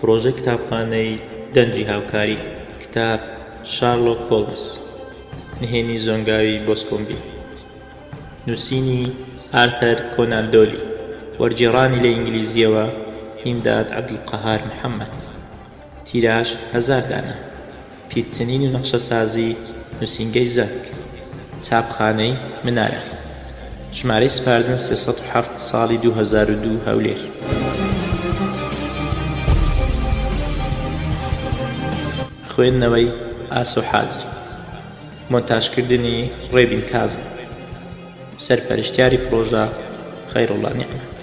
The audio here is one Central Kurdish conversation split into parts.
پڕۆژەی کتابخانەی دەنگی هاوکاری کتاب شارلۆک هۆڵمز نهێنی زۆنگاوی بۆسکۆمبی نووسینی ئارثەر کۆنان دۆلی وەرگێڕانی لە ئینگلیزییەوە هیمداد عەبدولقەهار محەمەد تیراژ هەزار دانە. پیتچنین و نەخشەسازی نووسینگەی زەرک. چاپخانەی منارە. ژمارەی سپاردن سێ سەد و حەفت ساڵی دوو هەزار و دوو هەولێر. خوێندنەوەی ئاسۆ حاجی. مۆنتاژکردنی ڕێبین کازم. سەرپەرشتیاری پڕۆژە، خەیروڵڵا نیعمەت.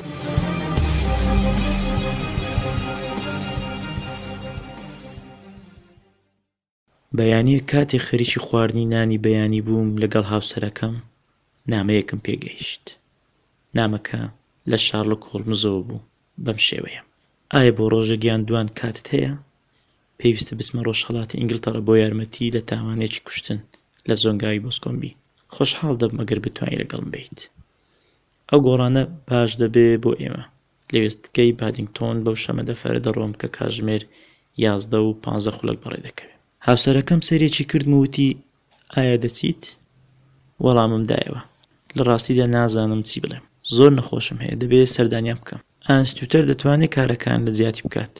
بەیانییەک کاتێک خەریکی خواردنی نانی بەیانی بووم لەگەڵ هاوسەرەکەم، نامەیەکم پێ گەیشت. نامەکە لە شارلۆک هۆڵمزەوە بوو، بەم شێوەیە، ئایا بۆ ڕۆژێک یان دووان کاتت هەیە؟ پێویستە بچمە ڕۆژهەڵاتی ئینگلتەڕە بۆ یارمەتی لە تاوانێکی کوشتن لە زۆنگاوی بۆسکۆمبی خۆشحاڵ دەبم ئەگەر بتوانی لەگەڵم بیت ئەو گۆڕانە باش دەبێ بۆ ئێمە لە وێستگەی بادینگتۆن بەو شەمەدەفەرە دەڕۆم کە کاژمێر یازدە و پانزە خولەک بەڕێ دەکەوێ هاوسەرەکەم سەیرێکی کردم و وتی ئایا دەچیت وەڵامم دایەوە لە ڕاستیدا نازانم چی بڵێم زۆر نەخۆشم هەیە دەبێ سەردانیان بکەم ئانستیوتەر دەتوانێ کارەکان لە جیاتی بکات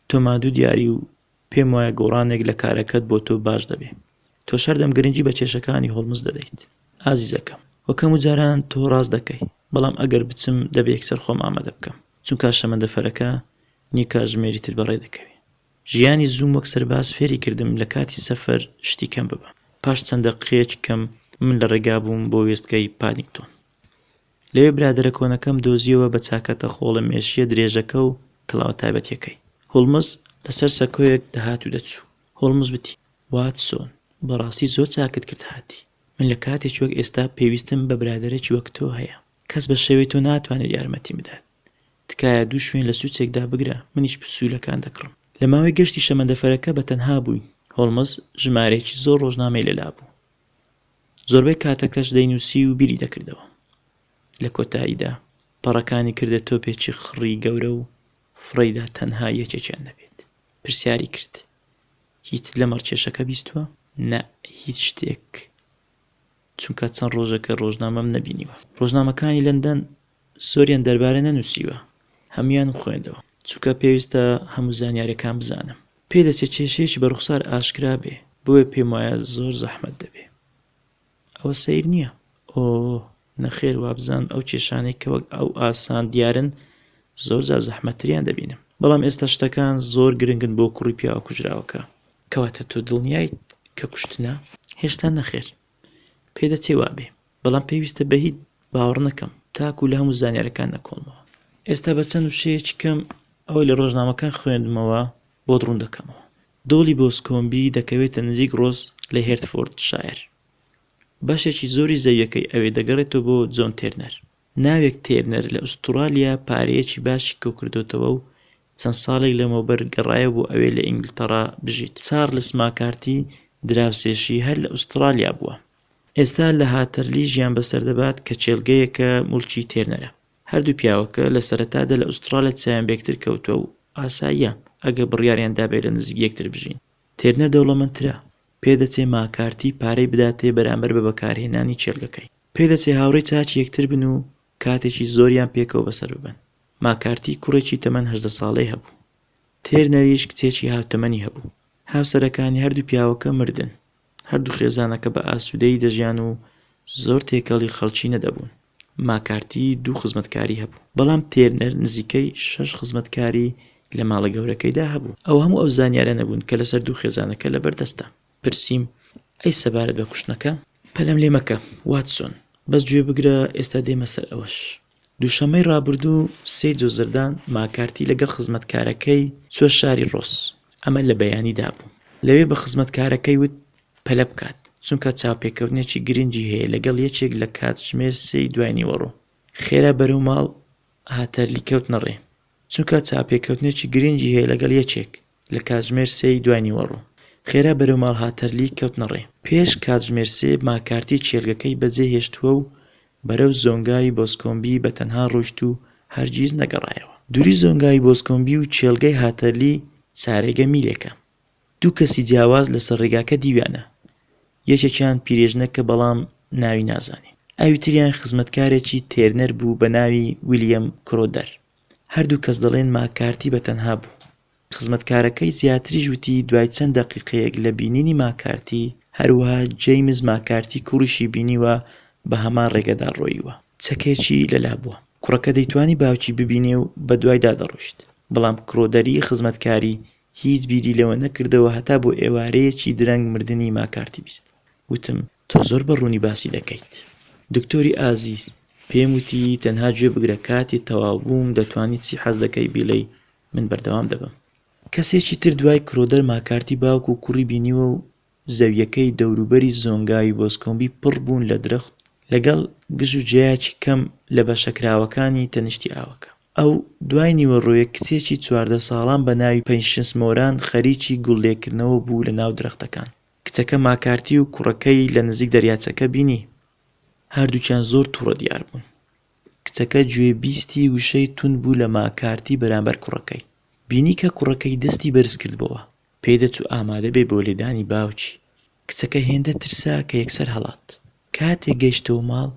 تۆمادو دیاری و پێم وایە گۆڕانێک لە کارەکەت بۆ تۆ باش دەبێ. تۆش هەردەم گرنگی بە کێشەکانی هۆڵمز دەدەیت ئازیزەکەم. وە کەم و جاران تۆ ڕاست دەکەی بەڵام ئەگەر بچم دەبێ یەکسەر خۆم ئامادە بکەم چونکا شەمەندەفەرەکە نیو کاژمێری تر بەڕێ دەکەوێ. ژیانی زووم وەک سەرباز فێری کردم لە کاتی سەفەر شتی کەم ببەم. پاش چەند دەققەیەکی کەم من لە ڕێگا بووم بۆ وێستگەی پادینگتۆن. لەوێ برادەرە کۆنەکەم دۆزییەوە بە چاکەتە خۆڵە مێشییە درێژەکە و کڵاوە تایبەتییەکەی. هۆڵمز لەسەر سەکۆیەک دەهات و دەچوو. هۆڵمز وتی، واتسۆن، بەڕاستی زۆر چاکت کرد هاتی. من لە کاتێکی وەک ئێستا پێویستم بە برادەرێکی وەک تۆ هەیە. کەس بە شێوەی تۆ ناتوانێت یارمەتیم بدات. تکایە دوو شوێن لە سوچێک دابگرە، منیش پسوولەکان دەکڕم. لە ماوەی گەشتی شەمەندەفەرەکە بەتەنها بووین. هۆڵمز ژمارەیەکی زۆر ڕۆژنامەی لەلا بوو. زۆربەی کاتەکەش دەینووسی و بیری دەکردەوە. لە کۆتاییدا پەڕەکانی کردە تۆپێکی خڕی گەورە و فڕێیدا تەنها یەکێکیان دەبێت. پرسیاری کرد، هیچت لەمەڕ کێشەکە بیستووە؟ نا، هیچ شتێک. چونکە چەند ڕۆژێکە ڕۆژنامەم نەبینیوە. ڕۆژنامەکانی لەندەن زۆریان دەربارە نەنووسیوە هەموویان بخوێندەوە چونکە پێویستە هەموو زانیارەکان بزانم پێدەچێ کێشەیەکی بە ڕوخسار ئاشکرا بێ بۆیە پێم وایە زۆر زەحمەت دەبێ ئەوە سەیر نییە ئۆ نەخێر وابزانم ئەو کێشانەی کە وەک ئەو ئاسان دیارن زۆر جار زەحمەتریان دەبینم بەڵام ئێستا شتەکان زۆر گرنگن بۆ کوڕی پیاوە کوژراوەکە کەواتە تۆ دڵنیایت کە کوشتنە هێشتا نەخێر پێدەچێ وابێ بەڵام پێویستە بە هیچ باوەڕ نەکەم تاکو لە هەموو زانیارەکان نەکۆڵمەوە ئێستا بە چەند وشەیەکی کەم ئەوەی لە ڕۆژنامەکان خوێندمەوە بۆت ڕوون دەکەمەوە دۆڵی بۆسکۆمبی دەکەوێتە نزیک ڕۆز لە هێرتفۆرد شاعر بەشێکی زۆری زەویەکەی ئەوێ دەگەڕێتەوە بۆ جۆن تێرنەر ناوێک تێرنەر لە ئوسترالیا پارەیەکی باشی کەوکردوتەوە و چەند ساڵێک لەمەوبەر گەڕایە بۆ ئەوێ لە ئینگلتەڕا بژیت چارلس ماکارتی دراوسێشی هەر لە ئوسترالیا بووە ئێستا لە هاتەرلی ژیان بەسەر دەبات کە کێڵگەیەکە موڵکی تێرنەرە. هەردوو پیاوەکە لە سەرەتادا لە ئوسترالیا چاویان بە یەکتر کەوتووە و ئاساییە ئەگەر بڕیاریان دابێت لە نزیک یەکتر بژین. تێرنەر دەوڵەمەندترە، پێدەچێت ماکارتی پارەی بداتێ بەرامبەر بە بەکارهێنانی کێڵگەکەی. پێدەچێت هاوڕێی چاکی یەکتر بن و کاتێکی زۆریان پێکەوە بەسەر ببەن. ماکارتی کوڕێکی تەمەن هەژدە ساڵەی هەبوو. تێرنەریش کچێکی هاوتەمەنی هەبوو. هاوسەرەکانی هەردوو پیاوەکە مردن. هەردوو خێزانەکە بە ئاسوودەیی دەژیان و زۆر تێکەڵی خەڵکی نەدەبوون. ماکارتی دوو خزمەتکاری هەبوو، بەڵام تێرنەر نزیکەی شەش خزمەتکاری لە ماڵە گەورەکەیدا هەبوو. ئەوە هەموو ئەو زانیاریانە بوون کە لەسەر دوو خێزانەکە لەبەر دەستە. پرسیم، ئەی سەبارەت بە کوشتنەکە؟ پەلەم لێ مەکە، واتسۆن، بەس گوێ بگرە، ئێستا دێمە سەر ئەوەش. دووشەممەی رابردوو سیجۆ زردان ماکارتی لەگەڵ خزمەتکارەکەی چووە شاری رۆس، ئەمە لە بەیانیدا بوو، لەوێ بە خزمەتکارەکەی وت پەلە بکات، چونکە چاوپێکەوتنێکی گرنگی هەیە لەگەڵ یەکێک لە کاتژمێر سێی دوای نیوەڕۆ. خێرا بەرەو ماڵ هاتەرلی کەوتنە رێ. چونکە چاوپێکەوتنێکی گرنگی هەیە لەگەڵ یەکێک لە کاتژمێر سێ ی دوای نیوەڕۆ. خێرا بەرەو ماڵ هاتەرلی کەوتنە ڕێ. پێش کاتژمێر سێ ماکارتی کێلگەکەی بەجێ هێشتووە و بەرەو زۆنگاوی بۆسکۆمبی بە تەنها ڕۆیشت و هەرگیز نەگەڕایەوە. دووری زۆنگاوی بۆسکۆمبی و کێلگەی هاتەرلی چارێگە میلێکە. دوو کەسی جیاواز لەسەر ڕێگاکە دیویانە، یەکێکیان پیرێژنەکە بەڵام ناوی نازانین، ئەوی تریان خزمەتکارێکی تێرنەر بوو بە ناوی ویلیەم کرۆدەر، هەردوو کەس دەڵێن ماکارتی بە تەنها بوو. خزمەتکارەکەی زیاتریش وتی دوای چەند دەقیقەیەک لە بینینی ماکارتی، هەروەها جەیمز ماکارتی کوڕیشی بینیوە بە هەمان ڕێگەدا ڕۆییوە. چەکێکی لەلا بووە. کوڕەکە دەیتوانی باوکی ببینێ و بەدوایدا دەڕۆیشت، بەڵام کرۆدەری خزمەتکاری هیچ بیری لەوە نەکردەوە هەتا بۆ ئێوارەیەکی درەنگ مردنی ماکارتی بیست. وتم، تۆ زۆر بە ڕوونی باسی دەکەیت. دکتۆری ئازیز، پێم وتی، تەنها گوێ بگرە کاتێ تەواو بووم دەتوانی چی حەز دەکەی بیڵێی من بەردەوام دەبم. کەسێکی تر دوای کرۆدەر ماکارتی باوک و کوڕی بینیوە و زەویەکەی دەوروبەری زۆنگاوی بۆزکۆمبی پڕ بوون لە درەخت لەگەڵ گژ و جیایەکی کەم لە بەشە کراوەکانی تەنیشتی ئاوەکە. ئەو دوای نیوەڕۆیەک کچێکی چواردە ساڵان بە ناوی پەیشنس مۆران خەریکی گوڵ لێکردنەوە بوو لە ناو درەختەکان. کچەکە ماکارتی و کوڕەکەی لە نزیک دەریاچەکە بینی. هەردووکیان زۆر توڕە دیار بوون. کچەکە گوێ بیستی وشەی توند بوو لە ماکارتی بەرامبەر کوڕەکەی. بینی کە کوڕەکەی دەستی بەرز کردبۆوە. پێی دەچوو ئامادە بێ بۆ لێدانی باوکی. کچەکە هێندە ترسا کە یەکسەر هەڵات. کاتێک گەیشتەوە ماڵ،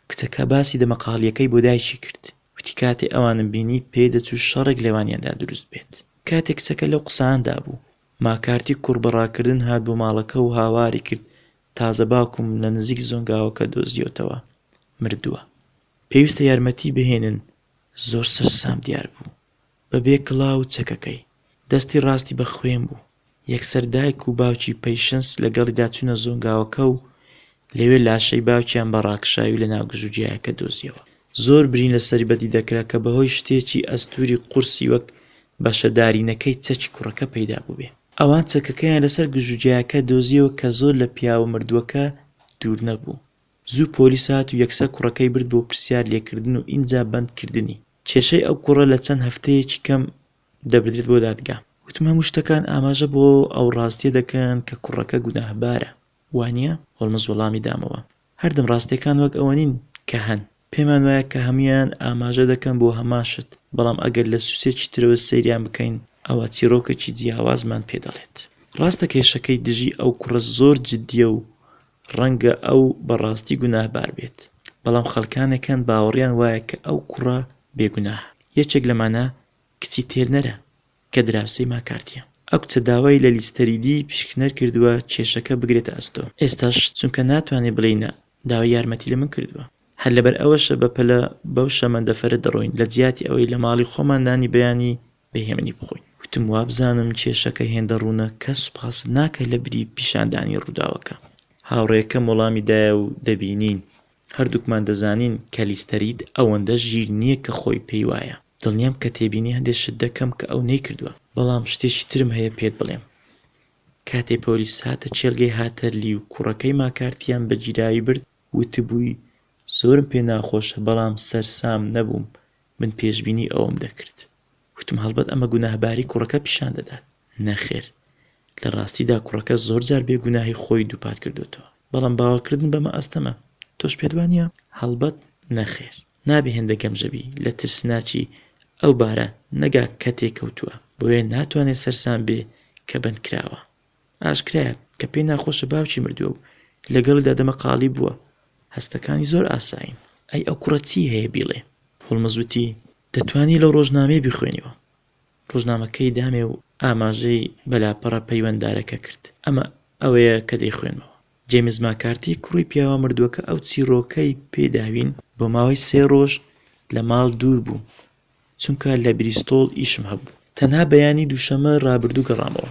کچەکە باسی دەمەقاڵییەکەی بۆ دایکی کرد. وتی کاتێ ئەوانم بینی پێی دەچوو شەڕێک لەوانیاندا دروست بێت. کاتێ کچەکە لەو قساندا بوو، ماکارتی کوڕ بە ڕاکردن هات بۆ ماڵەکە و هاواری کرد تازە باوکم لە نزیک زۆنگاوەکە دۆزییەوتەوە مردووە. پێویستە یارمەتی بهێنن. زۆر سەرسام دیار بوو. بە بێ کڵاو و چەکەکەی. دەستی ڕاستی بە خوێن بوو. یەکسەر دایک و باوکی پەیشنس لەگەڵیدا چوونە زۆنگاوەکە و لەوێ لاشەی باوکیان بە ڕاکشاوی لە ناو گژوگیایەکە دۆزیەوە. زۆر برین لە سەری بەدی دەکرا کە بەهۆی شتێکی ئەستووری قورسی وەک بەشە دارینەکەی چەکی کوڕەکە پەیدا بووبێ. ئەوان چەکەکەیان لە سەر گژوگیایەکە دۆزیەوە کە زۆر لە پیاوە مردووەکە دوور نەبوو. زوو پۆلیس هات و یەکسەر کوڕەکەی برد بۆ پرسیار لێکردن و ئینجا بەند کردنی. کێشەی ئەو کوڕە لە چەند هەفتەیەکی کەم دەبردرێت بۆ دادگا. وتم هەموو شتەکان ئاماژە بۆ ئەو ڕاستیە دەکەن کە کوڕەکە گوناهبارە، وانیە؟ هۆڵمز وەڵامی دامەوە، هەردەم ڕاستیەکان وەک ئەوە نین کە هەن، پێمان وایە کە هەموویان ئاماژە دەکەن بۆ هەمان شت، بەڵام ئەگەر لە سوسێکی ترەوە سەیریان بکەین ئەوا چیڕۆکێکی جیاوازمان پێ دەڵێت. ڕاستە کێشەکەی دژی ئەو کوڕە زۆر جدیە و ڕەنگە ئەو بەڕاستی گوناهبار بێت بەڵام خەڵکانێک هەن باوەڕیان وایە کە ئەو کوڕە بێگوناهە یەکێک لەمانە کچی تێرنەرە کە دراوسێی ماکارتیە ئەو کچە داوای لە لیستەریدی پیشکنەر کردووە کێشەکە بگرێتە ئەستۆ ئێستاش چونکە ناتوانێت بڵێی نا داوای یارمەتی لە من کردووە هەر لەبەر ئەوەشە بەپەلە بەو شەمەندەفەرە دەڕۆین لەجیاتی ئەوەی لە ماڵی خۆمان نانی بەیانی بە هێمنی بخۆین. وتم وابزانم کێشەکە هێندە ڕوونە کەس سوپاست ناکە لە بری پیشاندانی ڕووداوەکە. هاوڕێکەم وەڵامی دایە و دەبینین هەردووکمان دەزانین کە لیستەرید ئەوەندە ژیر نییە کە خۆی پێی وایە. دڵنیام کە تێبینی هەندێ شت دەکەم کە ئەو نەیکردووە. بەڵام شتێکی ترم هەیە پێت بڵێم. کاتێ پۆلیس هاتە کێلگەی هاتەرلی و کوڕەکەی ماکارتییان بە گیراوی برد، وتبووی زۆرم پێ ناخۆشە بەڵام سەرسام نەبووم من پێشبینی ئەوەم دەکرد وتم هەڵبەت ئەمە گوناهباری کوڕەکە پیشان دەدات نەخێر لە ڕاستیدا کوڕەکە زۆر جار بێ گوناهی خۆی دووپات کردۆتەوە بەڵام باوەڕکردن بەمە ئەستەمە تۆش پێت وانیە هەڵبەت نەخێر نابێ هێندە گەمژە بی لە ترسناکی ئەو بارە نەگا کە تێکەوتووە بۆیە ناتوانێ سەرسام بێ کە بەندکراوە. ئاشکرایە کە پێی ناخۆشە باوکی مردووە و لەگەڵیدا دەمەقاڵی بووە، هەستەکانی زۆر ئاسایین. ئەی ئەو کوڕە چی هەیە بیڵێ؟ هۆڵمز وتی، دەتوانی لەو ڕۆژنامەیە بیخوێنیەوە. ڕۆژنامەکەی دامێ و ئاماژەی بە لاپەڕە پەیوەندارەکە کرد. ئەمە ئەوەیە کە دەیخوێنمەوە. جەیمس ماکارتی کوڕی پیاوە مردووەکە ئەو چیڕۆکەی پێ داوین. بۆ ماوەی سێ ڕۆژ لە ماڵ دوور بوو. چونکە لە بریستۆڵ ئیشم هەبوو. تەنها بەیانی دووشەممە رابردوو گەڕامەوە.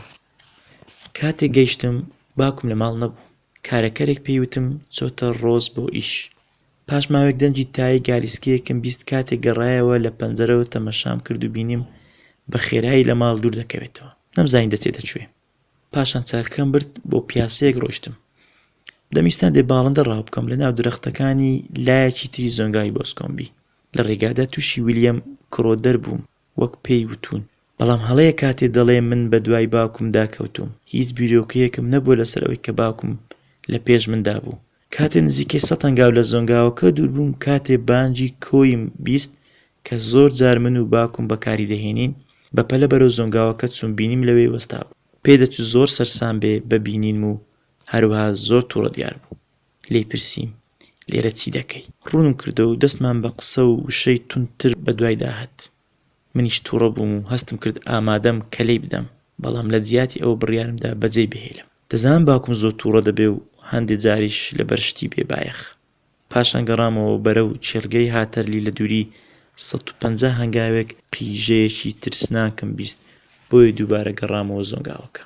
کاتێک گەیشتم باوکم لە ماڵ نەبوو. کارەکەرێک پێی وتم چۆتە رۆز بۆ ئیش. پاش ماوەیەک دەنگی تای گالیسکەیەکم بیست کاتێک گەڕایەوە لە پەنجەرەوە تەمەشام کرد و بینیم بە خێرایی لە ماڵ دوور دەکەوێتەوە. نەمزانی دەچێتە کوێ. پاشان چەرخەکەم برد بۆ پیاسەیەک ڕۆشتم دەمیستان دێ باڵندە ڕاو بکەم لە ناو درەختەکانی لایەکی تری زۆنگاوی بۆسکۆمبی لە ڕێگادا تووشی ویلیەم کرۆدەر بووم وەک پێی وتون بەڵام هەڵەیە کاتێ دەڵێ من بە دوای باوکم داکەوتوم هیچ بیرۆکەیەکم نەبووە لەسەر ئەوەی کە باوکم لە پێش مندا بوو کاتێ نزیکەی سەد هەنگاو لە زۆنگاوەکە دوور بووم کاتێ بانگی کۆیم بیست کە زۆر جار من و باوکم بەکاری دەهێنین، بە پەلە بەرەو زۆنگاوەکە چووم بینیم لەوێ وەستابوو. پێ دەچوو زۆر سەرسام بێ بە بینینم و هەروەها زۆر توڕە دیار بوو. لێی پرسیم، لێرە چی دەکەی؟ ڕوونم کردەوە و دەستمان بە قسە و وشەی توند تر بە دوایدا هات. منیش توڕە بووم و هەستم کرد ئامادەم کە لێی بدەم، بەڵام لە جیاتی ئەوە بڕیارم دا بە جێی بهێلم. دەزانم باوکم زۆر تووڕە دەبێ و هەندێ جاریش لەبەر شتی بێ بایەخ. پاشان گەڕامەوە بەرەو کێڵگەی هاتەرلی لە دووری سەد و پەنجا هەنگاوێک قیژەیەکی ترسناکم بیست بۆیە دووبارە گەڕامەوە زۆنگاوەکە.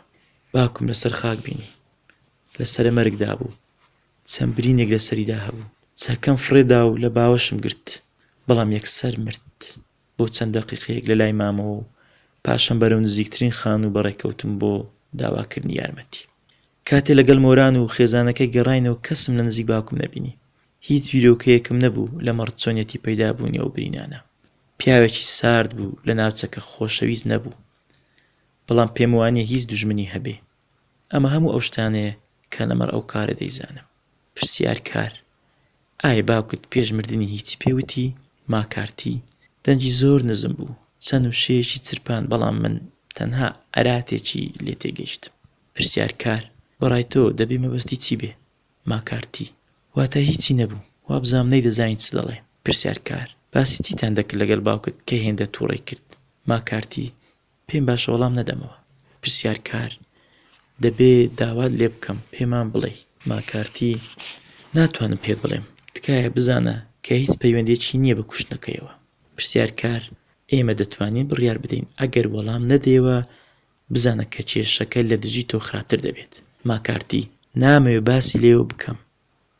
باوکم لەسەر خاک بینی. لە سەرە مەرگدا بوو. چەند برینێک لەسەریدا هەبوو. چەکەم فڕێ دا و لە باوەشم گرت. بەڵام یەکسەر مرد. بۆ چەند دەقیقەیەک لەلای مامەوە و پاشان بەرەو نزیکترین خانوو بەڕێ کەوتم بۆ داواکردنی یارمەتی. کاتێ لەگەڵ مۆران و خێزانەکەی گەڕاینەوە کەسم لە نزیک باوکم نەبینی. هیچ بیرۆکەیەکم نەبوو لەمەڕ چۆنیەتی پەیدابوونی ئەو برینانە. پیاوێکی سارد بوو لە ناوچەکە خۆشەویست نەبوو. بەڵام پێموانییە هیچ دوژمنی هەبێ. ئەمە هەموو ئەو شتانەیە کە لەمەڕ ئەو کارە دەیزانم. پرسیار، کار؟ ئایا باوکت پێش مردنی هیچی پێ وتی؟ ماکارتی، دەنگی زۆر نزم بوو، چەند وشەیەکی چرپاند بەڵام من تەنها عەراتێکی لێ تێگەیشتم. پرسیار، کار؟ بە ڕای تۆ دەبێ مەبەستی چی بێ؟ ماکارتی، واتە هیچی نەبوو، وابزانم نەیدەزانی چ دەڵێ. پرسیار، کار؟ باسی چیتان دەکرد لەگەڵ باوکت کە هێندە تووڕەی کرد؟ ماکارتی، پێم باشە وەڵام نەدەمەوە. پرسیارکار، دەبێ داوات لێ بکەم پێمان بڵێی. ماکارتی، ناتوانم پێت بڵێم. تکایە بزانە کە هیچ پەیوەندییەکی نییە بە کوشتنەکەیەوە. پرسیارکار، ئێمە دەتوانین بڕیار بدەین ئەگەر وەڵام نەدەیەوە بزانە کە کێشەکە لە دژی تۆ خراپتر دەبێت. ماکارتی، نامەوێ باسی لێوە بکەم.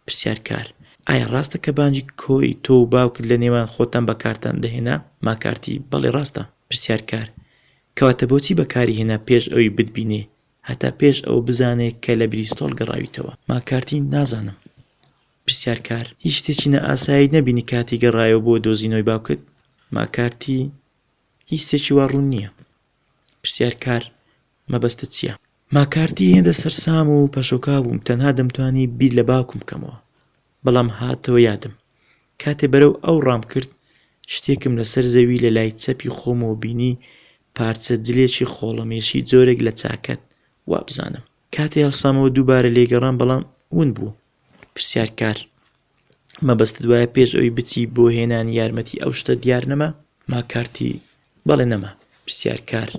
پرسیار کار، ئایا ڕاستە کە بانگی کۆی تۆ و باوکت لە نێوان خۆتان بەکارتان دەهێنا؟ ماکارتی، بەڵی ڕاستە. پرسیار کار، کەواتە بۆچی بەکاری هێنا پێش ئەوی بتبینێ، هەتا پێش ئەوە بزانێ کە لە بریستۆڵ گەڕاویتەوە؟ ماکارتی، نازانم. پرسیار کار، هیچ شتێکی نا ئاسایت نەبینی کاتی گەڕایەوە بۆ دۆزینەوەی باوکت؟ ماکارتی، هیچ شتێکی وا ڕوون نییە. پرسیار کار، مەبەستت چییە؟ ماکارتی هێندە سەرسام و پەشۆکاو بووم تەنها دەمتوانی بیر لە باوکم بکەمەوە بەڵام هاتەوە یادم کاتێ بەرەو ئەو ڕام کرد شتێکم لەسەر زەوی لە لای چەپی خۆمەوە بینی پارچە جلێکی خۆڵەمێشی جۆرێک لە چاکەت وابزانم کاتێ هەڵسامەوە دووبارە لێگەڕام بەڵام ون بوو پرسیار کار مەبەستت وایە پێش ئەوی بچی بۆ هێنانی یارمەتی ئەو شتە دیار نەما ماکارتی بەڵێ نەما پرسیارکار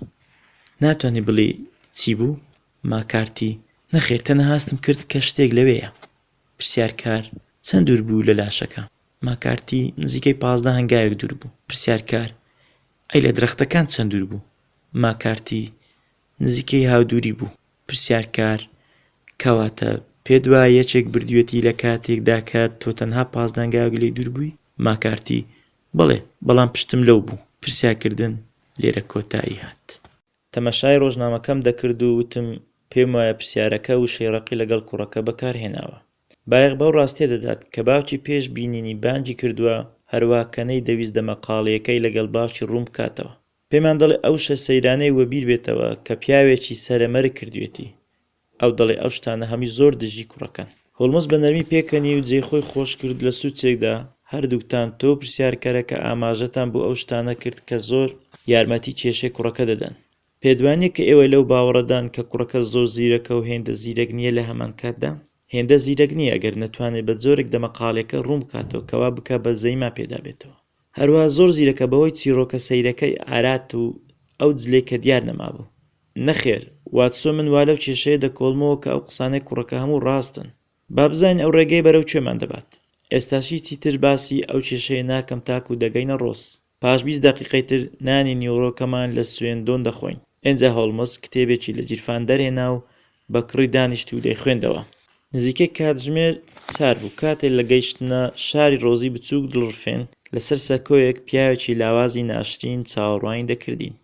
ناتوانانی بڵێ چی بوو ماکارتی نەخێر تەنەهاستم کرد کە شتێک لەوەیە پرسیارکار چەند دوور بوو لە لاشەکە ماکارتی نزیکەی پازدە هەنگاوێک دوور بوو پرسیارکار ئەی لە درەختەکان چەند دوور بوو ماکارتی نزیکەی هاودوری بوو. پرسیارکار، کەواتە پێت وایە یەکێک بردویەتی لە کاتێکدا کە تۆ تەنها پاس دانگاوێک لێی دوور بووی؟ ماکارتی، بەڵێ، بەڵام پشتم لەو بوو. پرسیارکردن لێرە کۆتایی هات. تەماشای ڕۆژنامەکەم دەکرد و وتم پێم وایە پرسیارەکە وشەی ڕەقی لەگەڵ کوڕەکە بەکار هێناوە. بایەخ بەو ڕاستیە دەدات کە باوکی پێش بینینی بانگی کردوە، هەروەها کەنەی دەویست دەمەقاڵێیەکەی لەگەڵ باوکی ڕوون بکاتەوە. پێمان دەڵێ ئەو شە سەیرانەی وەبیر بێتەوە کە پیاوێکی سەرە مەرگ کردوێتی. ئەو دەڵێ ئەو شتانە هەمووی زۆر دژی کوڕەکەن. هۆڵمز بە نەرمی پێکەنی و جێ خۆی خۆش کرد لە سوچێکدا، هەردووکتان، تۆ و پرسیارکەرەکە ئاماژەتان بۆ ئەو شتانە کرد کە زۆر یارمەتی کێشەی کوڕەکە دەدەن. پێت وانیە کە ئێوە لەو باوەڕەدان کە کوڕەکە زۆر زیرەکە و هێندە زیرەک نیە لە هەمانکاتدا هێندە زیرەک نیە ئەگەر نەتوانێت بە جۆرێک دەمەقاڵێکە ڕوون بکاتەوە کە وا بکا بە زەیما پێدا بێتەوە. هەروەها زۆر زیرەکە بەهۆی چیڕۆکە سەیرەکەی ئارات و ئەو جلەی کە دیار نەمابوو. نەخێر، واتسۆن من وا لەو کێشەیە دەکۆڵمەوە کە ئەو قسانەی کوڕەکە هەموو ڕاستن. با بزانین ئەو ڕێگەیە بەرەو کوێمان دەبات. ئێستاش هیچی تر باسی ئەو کێشەیە ناکەم تاکوو دەگەینە ڕۆس. پاش بیست دەقیقەی تر نانی نیوڕۆکەمان لە سوێندۆن دەخۆین. ئێنجا هۆڵمز کتێبێکی لە گیرفان دەرهێنا و بە کڕی دانیشت و دەیخوێندەوە. نزیکەی کاتژمێر چار بوو کاتێ لە گەیشتنە شاری ڕۆزی بچووک دڵڕفێن لە سەر سەکۆیەک پیاوێکی لاوازی ناشرین چاوەڕوانی دەکردین.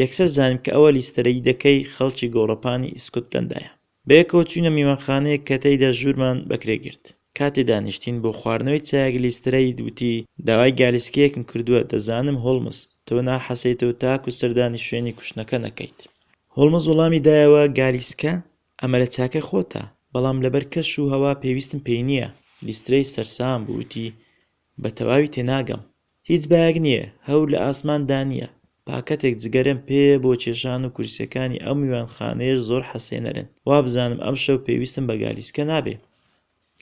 یەکسەر زانیم کە ئەوە لیستەرەیدەکەی خەڵکی گۆڕەپانی ئیسکوتلەندایە. بەیەکەوە چووینە میوانخانەیەک کە تێیدا ژوورمان بەکرێ گرت. کاتێ دانیشتین بۆ خواردنەوەی چایەک لیسترەید وتی، داوای گالیسکەیەکم کردووە، دەزانم، هۆڵمز، تۆ ناحەسێیتەوە تاکو سەردانی شوێنی کوشتنەکە نەکەیت. هۆڵمز وڵامی دایەوە، گالیسکە؟ ئەمە لە چاکەی خۆتە، بەڵام لەبەر کەش و هەوا پێویستم پێی نییە. لیسترەید سەرسام بوو وتی، بە تەواوی تێناگەم. هیچ بایەک نییە، هەور لە ئاسمان دا نییە. پاکەتێک جگەرەم پێیە بۆ کێشان و کورسیەکانی ئەو میوانخانەیەش زۆر حەسێنەرن. وابزانم ئەمشەو پێویستم بە گالیسکە نابێ.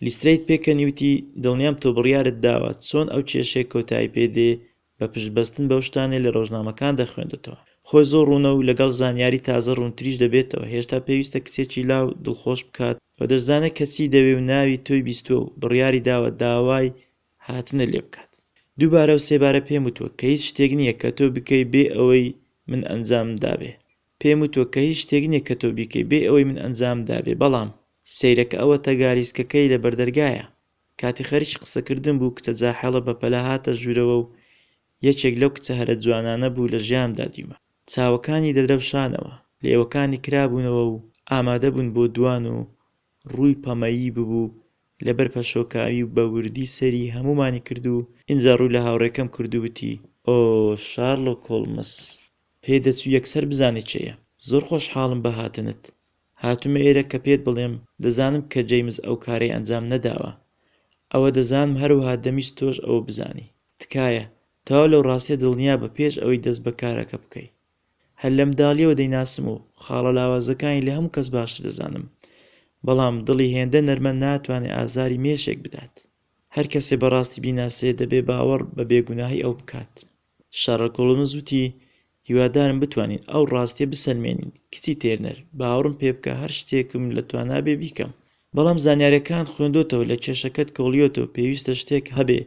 لیسترەیت پێکەنی وتی، دڵنیام تۆ بڕیارت داوە چۆن ئەو کێشەیە کۆتایی پێ دێ بە پشت بەستن بەو شتانەی لە رۆژنامەکان دەخوێندتەوە. خۆی زۆر روونە و لەگەڵ زانیاری تازە روونتریش دەبێتەوە، هێشتا پێویستە کچێکی لاو دڵخۆش بکات و دەشزانێت کە چی دەوێ و ناوی تۆی بیستووە و بڕیاری داوە داوای هاتنت لێ بکات. دووبارە و سێبارە پێم وتووە کە هیچ شتێک نییە کە تۆ بکەی بێ ئەوەی من ئەنجامم دابێ پێم وتووە کە هیچ شتێک نییە کە تۆ بیکەی بێ ئەوەی من ئەنجامم دابێ بەڵام سەیرەکە ئەوەتە گالیسکەکەی لە بەردەرگایە. کاتێ خەریکی قسەکردن بوو کچە جاحێڵە بەپەلە هاتە ژوورەوە و یەکێک لەو کچە هەرە جوانانە بوو لە ژیانمدا دیومە. چاوەکانی دەدرەوشانەوە، لێوەکانی کرابوونەوە و ئامادە بوون بۆ دووان و ڕووی پەمەیی ببوو لەبەر پەشۆکاوی و بە وردی سەیری هەموومانی کرد و ئینجا ڕووی لە هاوڕێکەم کرد و وتی، ئۆ، شارلۆک هۆڵمز! پێدەچوو یەکسەر بزانێ کێیە. زۆر خۆشحاڵم بە هاتنت. هاتومە ئێرە کە پێت بڵێم دەزانم کە جەیمس ئەو کارەی ئەنجام نەداوە ئەوە دەزانم هەروەها دەمویست تۆش ئەوە بزانی تکایە تەواو لەو ڕاستیە دڵنیا بە پێش ئەوەی دەست بە کارەکە بکەی هەر لە مداڵیەوە دەیناسم و خاڵە لاوازەکانی لە هەموو کەس باشتر دەزانم بەڵام دڵی هێندە نەرمە ناتوانێ ئازاری مێشێک بدات هەر کەسێ بەڕاستی بیناسێ دەبێ باوەڕ بە بێ گوناهی ئەو بکات شەرڵک هۆڵمز وتی، هیوادارم بتوانین ئەو ڕاستییە بسەلمێنین، کچی تێرنەر، باوەڕم پێ بکە هەر شتێکم لە توانا بێ بیکەم. بەڵام زانیارییەکانت خوێندۆتەوە لە کێشەکەت کۆڵیۆتەوە پێویستە شتێک هەبێ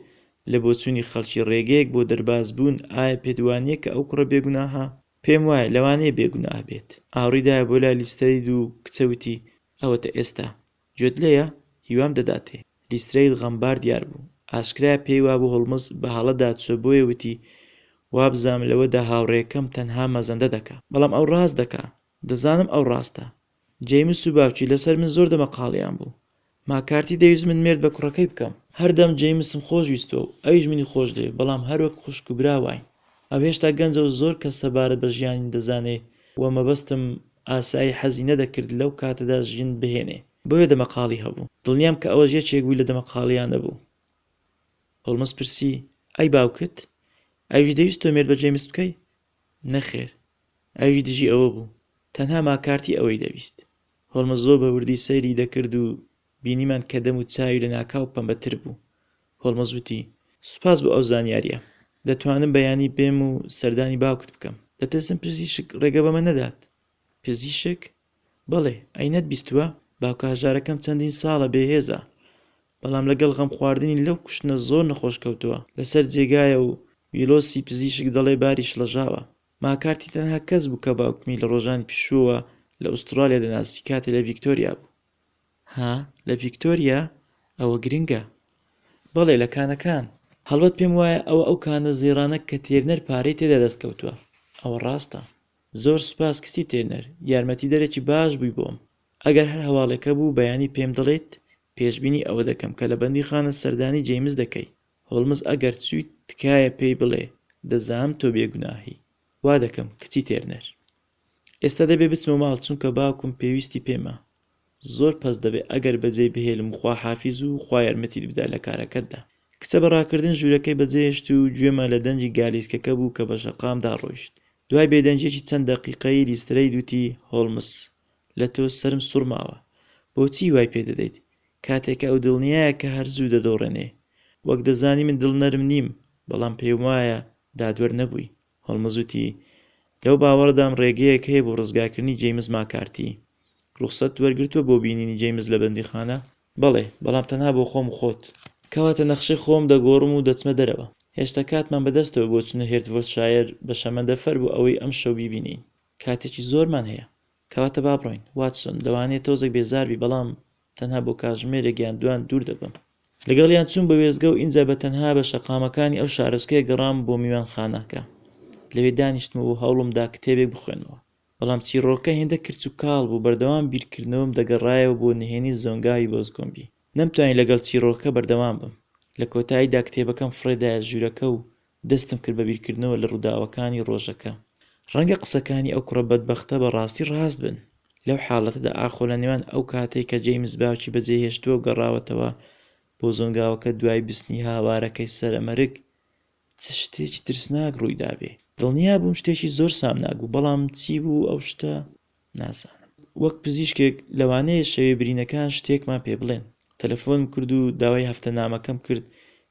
لە بۆچوونی خەڵکی ڕێگەیەک بۆ دەرباز بوون ئایا پێت وانییە کە ئەو کوڕە بێگوناهە؟ پێم وایە لەوانەیە بێگوناه بێت. ئاوڕی دایە بۆ لای لیستەری دوو کچە وتی، ئەوەتە ئێستا گوێت لێیە؟ هیوام دەداتێ. لیسترەید غەمبار دیار بوو. ئاشکرایە پێی وابوو هۆڵمز بە هەڵە داچووە بۆیە وتی، وابزانم لەوەدا هاوڕێکەم تەنها مەزەندە دەکا. بەڵام ئەو ڕاست دەکا. دەزانم ئەو ڕاستە. جەیمس و باوکی لەسەر من زۆر دەمەقاڵێیان بوو. ماکارتی دەویست من مێرد بە کوڕەکەی بکەم. هەردەم جەیمسم خۆش ویستووە و ئەویش منی خۆش دەوێ بەڵام هەروەک خوشک و برا واین. ئەو هێشتا گەنجە و زۆر کەس سەبارەت بە ژیانی دەزانێ و مەبەستم ئاسایی حەزی نەدەکرد لەو کاتەدا ژن بهێنێ بۆیە دەمەقاڵی هەبوو. دڵنیام کە ئەوەش یەکێک بوو لە دەمەقاڵییانە بوو. هۆڵمز پرسی، ئەی باوکت؟ ئەویش دەویست تۆ مێرد بە جەیمس بکەی؟ نەخێر. ئەویش دژی ئەوە بوو. تەنها ماکارتی ئەوەی دەویست. هۆڵمز زۆر بە وردی سەیری دەکرد و بینیمان کە دەم و چاوی لەناکاو پەمبەتر بوو. هۆڵمز وتی، سوپاس بۆ ئەو زانیارییە. دەتوانم بەیانی بێم و سەردانی باوکت بکەم؟ دەترسم پزیشک ڕێگە بەمە نەدات. پزیشک؟ بەڵێ، ئەی نەتبیستووە؟ باوکە هەژارەکەم چەندین ساڵە بێهێزە، بەڵام لەگەڵ غەمخواردنی لەو کوشتنە زۆر نەخۆش کەوتووە، لەسەر جێگایە و ویڵۆسی پزیشک دەڵێ باری شڵەژاوە. ماکارتی تەنها کەس بوو کە باوکمی لە ڕۆژانی پیشووەوە لە ئوستڕالیا دەناسی کاتێ لە ڤیکتۆریا بوو. ها لە ڤیکتۆریا ئەوە گرنگە. بەڵێ لە کانەکان. هەڵبەت پێم وایە ئەوە ئەو کانە زێڕانە کە تێرنەر پارەی تێدا دەست کەوتوە. ئەوە ڕاستە. زۆر سوپاس کچی تێرنەر، یارمەتیدەرێکی باش بووی بۆم. ئەگەر هەر هەواڵێک هەبوو بەیانی پێم دەڵێیت، پێشبینی ئەوە دەکەم کە لە بەندیخانە سەردانی جەیمس دەکەی. هۆڵمز ئەگەر چوویت تکایە پێی بڵێ دەزانم تۆ بێگوناهی. وا دەکەم کچی تێرنەر. ئێستا دەبێ بچمە ماڵ چونکە باوکم پێویستی پێمە زۆر پەست دەبێ ئەگەر بەجێی بهێلم خوا حافیز و خوا یارمەتیت بدا لە کارەکەتدا. کچە بە ڕاکردن ژوورەکەی بەجێهێشت و گوێمان لە دەنگی گالیسکەکە بوو کە بە شەقام داڕۆیشت دوای بێدەنگییەکی چەند دەقیقەی لیسترەید وتی هۆڵمس لە تۆ سەرم سوڕماوە بۆچی وای پێ دەدەیت کاتێ کە ئەو دڵنیایە کە هەر زوو دەدۆڕێنێ وەک دەزانی من دڵ نەرم نیم بەڵام پێم وایە دادوەر نەبووی هۆڵمز وتی، لەو باوەڕەدام ڕێگەیەک هەیە بۆ ڕزگارکردنی جەیمس ماکارتی. ڕوخسەت وەرگرتووە بۆ بینینی جەیمس لە بەندیخانە؟ بەڵێ، بەڵام تەنها بۆ خۆم و خۆت. کەواتە نەخشەی خۆم دەگۆڕم و دەچمە دەرەوە. هێشتا کاتمان بەدەستەوە بۆ چونە هێرتڤۆردشایەر بە شەمەندەفەر بۆ ئەوەی ئەمشەو بیبینین. کاتێکی زۆرمان هەیە. کەواتە با بڕۆین، واتسۆن. لەوانەیە تۆزێک بێزار بی، بەڵام تەنها بۆ کاتژمێرێک یان دوان دوور دەبم. لەگەڵیان چووم بە وێستگە و ئینجا بە تەنها بە شەقامەکانی ئەو شارۆچکەیە گەڕام بۆ میوانخانەکە. لەوێ دانیشتم و هەوڵم دا کتێبێک بخوێنمەوە. بەڵام چیڕۆکەکە هێندە کرچ و کاڵ بوو بەردەوام بیرکردنەوەم دەگەڕایەوە بۆ نهێنی زۆنگاوی بۆزگۆمبی. نەمتوانی لەگەڵ چیڕۆکەکە بەردەوام بم. لە کۆتاییدا کتێبەکەم فڕێدایە ژوورەکە و دەستم کرد بە بیرکردنەوە لە ڕووداوەکانی ڕۆژەکە. ڕەنگە قسەکانی ئەو کوڕە بەدبەختە بە ڕاستی ڕاست بن. لەو حاڵەتەدا ئاخۆ لە نێوان ئەو کاتەی کە جەیمس باوکی بەجێهێشتووە و گەڕاوەتەوە بۆ زۆنگاوەکە دوای بستنی هاوارەکەی سەرەمەرگ، چ شتێکی ترسناک ڕووی دابێ؟ دڵنیا بووم شتێکی زۆر سامناک بوو، بەڵام چی بوو ئەو شتە؟ نازانم. وەک پزیشکێک لەوانەیە شەوێ برینەکان شتێکمان پێ بڵێن. تەلەفۆنم کرد و داوای هەفتەنامەکەم کرد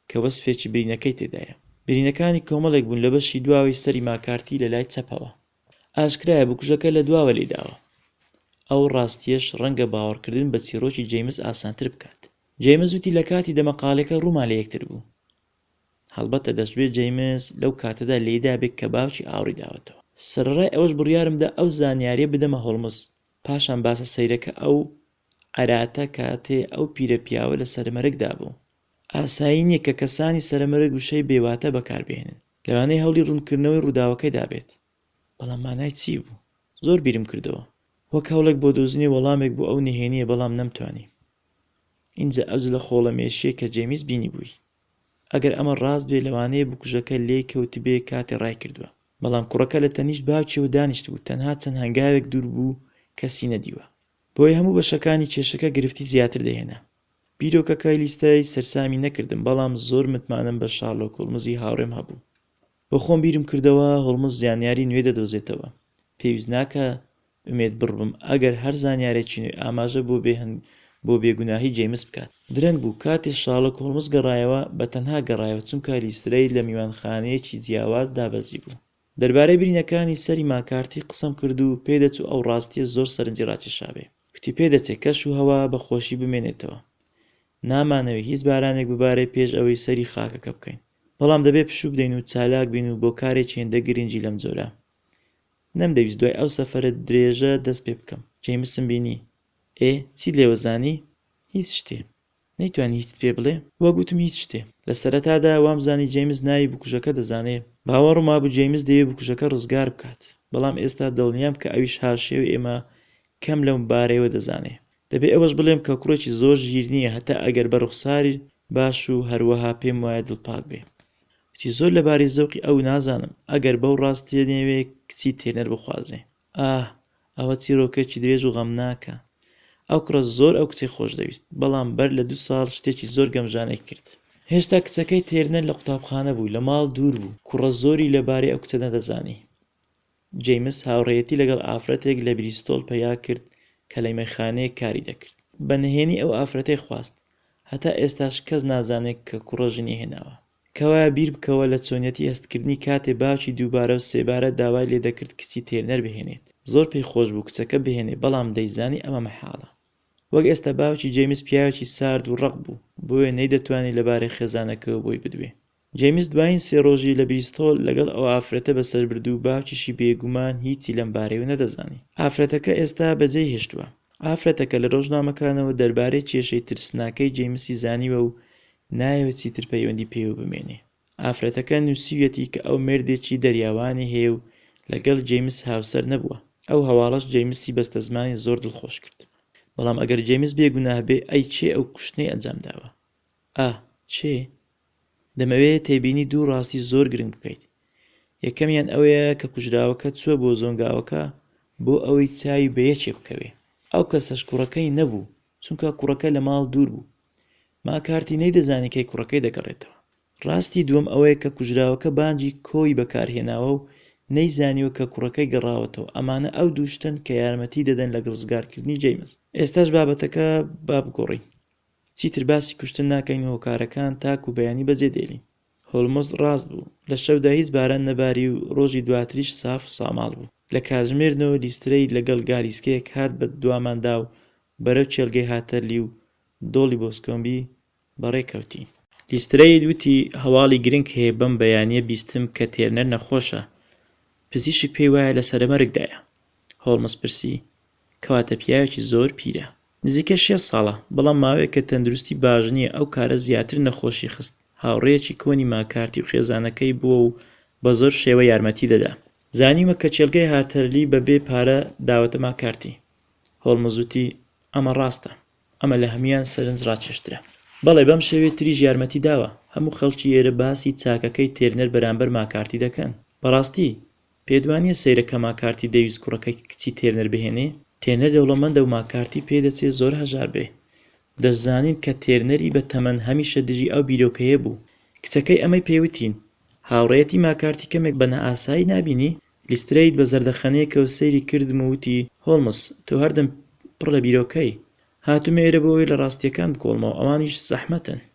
کە وەسفێکی برینەکەی تێدایە. برینەکانی کۆمەڵێک بوون لە بەشی دواوەی سەری ماکارتی لە لای چەپەوە. ئاشکرایە بکوژەکە لە دواوە لێی داوە. ئەو ڕاستییەش ڕەنگە باوەڕکردن بە چیڕۆکی جەیمس ئاسانتر بکات. جەیمس وتی لە کاتی دەمەقاڵێکە ڕوومان لە یەکتر بوو. هەڵبەتە دەشبێ جەیمس لەو کاتەدا لێیدابێ کە باوکی ئاوڕی داوەتەوە. سەرەڕای ئەوەش بڕیارم دا ئەو زانیارییە بدەمە هۆڵمز. پاشان باسە سەیرەکە ئەو عەراتە کاتێ ئەو پیرە پیاوە لە سەرمەرگدا بوو. ئاسایی نییە کە کەسانی سەرمەرگ وشەی بێواتا بەکار بهێنن. لەوانەیە هەوڵی ڕوونکردنەوەی ڕووداوەکەی دابێت. بەڵام مانای چی بوو؟ زۆر بیرم کردەوە. وەک هەوڵێک بۆ دۆزینی وەڵامێک بۆ ئەو نهێنییە بەڵام نەمتوانی. ئینجا ئەو جلە خۆڵە مێشیەی کە جێمیس بینیبووی. ئەگەر ئەمە ڕاست بێت لەوانەیە بکوژەکە لێی کەوتبێ کاتێ ڕایکردووە. بەڵام کوڕەکە لە تەنیشت باوکیەوە دانیشتبوو تەنها چەند هەنگاوێک دوور بوو کەسی نەدیوە. بۆیە هەموو بەشەکانی کێشەکە گرفتی زیاتر دەهێنا. بیرۆکەکەی لیستای سەرسامی نەکردم بەڵام زۆر متمانەم بە شارلۆک هۆڵمزی هاوڕێم هەبوو. بۆ خۆم بیرم کردەوە هۆڵمز زانیاری نوێ دەدۆزێتەوە. پێویست ناکا ئومێد بڕ بم ئەگەر هەر زانیارێکی نوێ ئاماژە بۆ بێ هەنگ بۆ بێ گوناهی جەیمس بکات. درەنگ بوو کاتێ شارلۆک هۆڵمز گەڕایەوە، بە تەنها گەڕایەوە چونکا لیسترەید لە میوانخانەیەکی جیاواز دابەزیبوو. دەربارەی برینەکانی سەری ماکارتی قسەم کرد و پێی دەچوو ئەو ڕاستیە زۆر سەرنجی ڕاکێشابێ. کوتی پێ دەچێ کەش و هەوا بە خۆشی بمێنێتەوە. نامانەوێ هیچ بارانێک ببارێ پێش ئەوەی سەری خاکەکە بکەین. بەڵام دەبێت پشوو بدەین و چالاک بین و بۆ کارێکی هێندە گرنگی لەم جۆرە. نەمدەویست دوای ئەو سەفەرە درێژە دەست پێ بکەم. جەیمسم بینی. ئێ، چیت لێوە زانی؟ هیچ شتێ. نەیتوانی هیچت پێ بڵێ؟ وەک وتم هیچ شتێ. لە سەرەتادا وامزانی جەیمس ناوی بکوژەکە دەزانێ. باوەڕم وابوو جەیمس دەیەوێ بکوژەکە ڕزگار بکات. بەڵام ئێستا دڵنیام کە ئەویش هاوشێوەی ئێمە کەم لەم بارەیەوە دەزانێ. دەبێ ئەوەش بڵێم کە کوڕێکی زۆر ژیر نییە هەتا ئەگەر بە ڕوخساری باش و هەروەها پێم وایە دڵپاک بێ کچی زۆر لە باری زەوقی ئەو نازانم ئەگەر بەو ڕاستیە نەیەوێ کچی تێنەر بخوازێ ئاه ئەوە چیڕۆکێکی درێژ و غەمناکە ئەو کوڕە زۆر ئەو کچەی خۆش دەویست بەڵام بەر لە دوو ساڵ شتێکی زۆر گەمژانەی کرد هێشتا کچەکەی تێرنەر لە قوتابخانە بوو لە ماڵ دوور بوو کوڕە زۆری لە بارەی ئەو کچە نەدەزانی جەیمس هاوڕێیەتی لەگەڵ ئافرەتێک لە بریستۆڵ پەیا کرد کە لە یمەکخانەیەک کاری دەکرد. بە نهێنی ئەو ئافرەتەی خواست. هەتا ئێستاش کەس نازانێت کە کوڕە ژنی هێناوە. کەوایە بیر بکەوە لە چۆنیەتی هەستکردنی کاتێ باوکی دووبارە و سێبارە داوای لێ دەکرد کچی تێرنەر بهێنێت. زۆر پێی خۆش بوو کچەکە بهێنێ بەڵام دەیزانی ئەمە مەحاڵە. وەک ئێستا باوکی جەیمس پیاوێکی سارد و ڕەق بوو، بۆیە نەیدەتوانی لەبارەی خێزانەکەوە بۆی بدوێ. جەیمس دوایین سێ ڕۆژی لە بریستۆل لەگەڵ ئەو ئافرەتە بەسەربردوو باوکیشی بێگومان هیچی لەم بارەیەوە نەدەزانی ئافرەتەکە ئێستا بەجێی هێشتووە ئافرەتەکە لە ڕۆژنامەکانەوە دەربارەی کێشەی ترسناکەی جەیمسی زانیوە و نایەوێت چیتر پەیوەندی پێوە بمێنێ ئافرەتەکە نوسیویەتی کە ئەو مێردێکی دەریاوانی هەیە و لەگەڵ جەیمس هاوسەر نەبووە ئەو هەواڵەش جەیمسی بەستەزمانی زۆر دڵخۆش کرد بەڵام ئەگەر جەیمس بێگوناه بێ ئەی کێ ئەو کوشتنەی ئەنجام داوە؟ ئا. چێ؟ دەمەوێت تێبینی دوو ڕاستی زۆر گرنگ بکەیت. یەکەمیان ئەوەیە کە کوژراوەکە چووە بۆ زۆنگاوەکە بۆ ئەوەی چاوی بە یەکێ بکەوێ. ئەو کەسەش کوڕەکەی نەبوو، چونکە کوڕەکە لە ماڵ دوور بوو. ماکارتی نەیدەزانی کەی کوڕەکەی دەگەڕێتەوە. ڕاستی دووەم ئەوەیە کە کوژراوەکە بانجی کۆی بەکار هێناوە و نەیزانیوە کە کوڕەکەی گەڕاوەتەوە. ئەمانە ئەو دوو شتەن کە یارمەتی دەدەن لە گڕزگارکردنی جەیمس. ئێستاش بابەتەکە با بگۆڕین. چیتر باسی کوشتن ناکەین و هۆکارەکان تاک و بەیانی بەجێ دێلین. هۆلمز ڕاست بوو. لە شەودا هیچ باران نەباری و ڕۆژی دواتریش ساف و ساماڵ بوو. لە کاتژمێرنۆ لیسترەی لەگەڵ گالیسکەیەک هات بە دواماندا و بەرەو کێلگەی هاتەرلی و دۆڵی بۆسکۆمبی بەڕێ کەوتین. لیسترەی وتی هەواڵی گرنگ هەیە بەم بەیانیە بیستم کە تێرنەر نەخۆشە پزیشک پێی وایە لە سەرەمەرگدایە. هۆڵمز پرسی کەواتە پیاوێکی زۆر پیرە. نزیکەی شێست ساڵە، بەڵام ماوەیەکە تەندروستی باش نییە، ئەو کارە زیاتر نەخۆشی خست، هاوڕێیەکی کۆنی ماکارتی و خێزانەکەی بووە و بە زۆر شێوە یارمەتی دەدا. زانیومە کە کێڵگەی هارتەرلی بە بێ پارە داوەتە ماکارتی. هۆڵمز وتی، ئەمە ڕاستە. ئەمە لە هەموویان سەرنج ڕاکێشترە. بەڵێ، بەم شێوەیە تریش یارمەتی داوە. هەموو خەڵکی ئێرە باسی چاکەکەی تێرنەر بەرامبەر ماکارتی دەکەن. بەڕاستی، پێتوانیە سەیرە کە ماکارتی دەویست کوڕەکەی کچی تێرنەر بهێنێ؟ تێرنەر دەوڵەمەندە و ماکارتی پێی دەچێ زۆر هەژار بێ. دەشزانین کە تێرنەری بە تەمەن هەمیشە دژی ئەو بیرۆکەیە بوو. کچەکەی ئەمەی پێ وتین. هاوڕێیەتی ماکارتی کەمێک بە نائاسایی نابینی؟ لیسترەید بە زەردەخەنەیەکەوە سەیری کردم و وتی، هۆڵمز، تۆ هەردەم پڕ لە بیرۆکەی. هاتوومە ئێرە بۆ ئەوەی لە ڕاستییەکان بکۆڵمەوە، ئەوانیش زەحمەتن.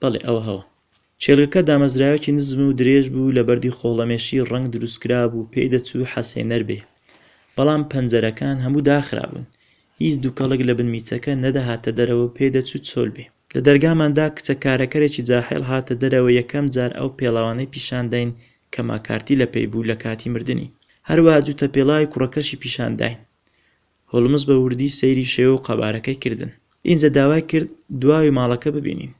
بەڵێ ئەوە هەوە. کێڵگەکە دامەزراوێکی نزم و درێژ بوو لە بەردی خۆڵەمێشی ڕەنگ دروستکرابوو پێی دەچوو حەسێنەر بێ. بەڵام پەنجەرەکان هەموو داخرابوون. هیچ دوکەڵێک لە بن میچەکە نەدەهاتە دەرەوە و پێی دەچوو چۆل بێ. لە دەرگاماندا کچە کارەکەرێکی جاحێڵ هاتە دەرەوە یەکەم جار ئەو پێڵاوانەی پیشان داین کە ماکارتی لە پێی بوو لە کاتی مردنی. هەروا جووتە پێڵاوی کوڕەکەشی پیشان داین. هۆڵمز بە وردی سەیری شێوە و قەبارەکەی کردن. ئینجا داوای کرد دواوی ماڵەکە ببینین.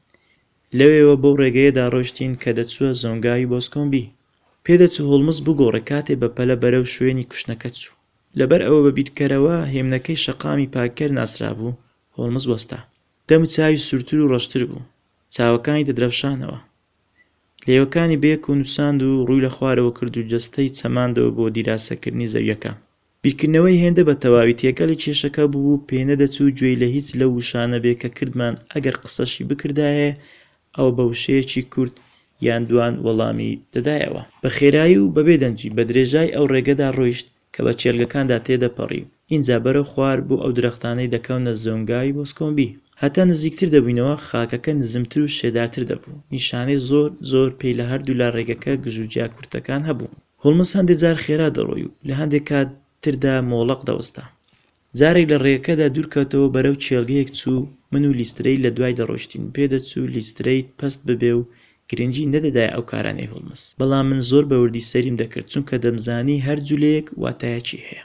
لەوێوە بەو ڕێگەیەدا ڕۆیشتین کە دەچووە زۆنگاوی بۆسکۆمبی. پێدەچوو هۆڵمز بگۆڕێ کاتێ بە پەلە بەرەو شوێنی کوشنەکە چوو. لەبەر ئەوە بە بیرکەرەوە هێمنەکەی شەقامی پاککەر ناسرابوو، هۆڵمز وەستا. دەم چاوی سوورتر و ڕەشتر بوو. چاوەکانی دەدرەوشانەوە. لێوەکانی بەیەکەوە نووچاند و ڕووی لە خوارەوە کرد و جەستەی چەماندەوە بۆ دیراسەکردنی زەوییەکە. بیرکردنەوەی هێندە بە تەواوی تێکەڵی کێشەکە بووبوو پێنەدەچوو گوێی لە هیچ لەو وشانە بێ کە کردمان ئەگەر قسەشی بکردایێ ئەوە بە وشەیەکی کورت یان دوان وەڵامی دەدایەوە بە خێرایی و بەبێ دەنگی بە درێژای ئەو ڕێگەدا ڕۆیشت کە بە کێلگەکاندا تێدەپەڕی و ئینجا بەرەو خوار بۆ ئەو درەختانەی دەکەونە زۆنگاوی بۆسکۆمبی هەتا نزیکتر دەبووینەوە خاکەکە نزمتر و شێدارتر دەبوو نیشانەی زۆر زۆر پێی لە هەردوولا ڕێگەکە گژوگیا کورتەکان هەبوو. هۆڵمز هەندێ جار خێرا دەڕۆی و لە هەندێ کات تردا مۆڵەق دەوەستا. جارێک لە ڕێگەکەدا دوورکەوتەوە بەرەو کێڵگەیەک چوو، من و لیسترەید لە دوای دەڕۆیشتین، پێ دەچوو لیسترەید پەست ببێ و گرنگی نەدەدایە ئەو کارانەی هۆڵمز، بەڵام من زۆر بە وردی سەیریم دەکرد چونکە دەمزانی هەر جولەیەک واتایەکی هەیە.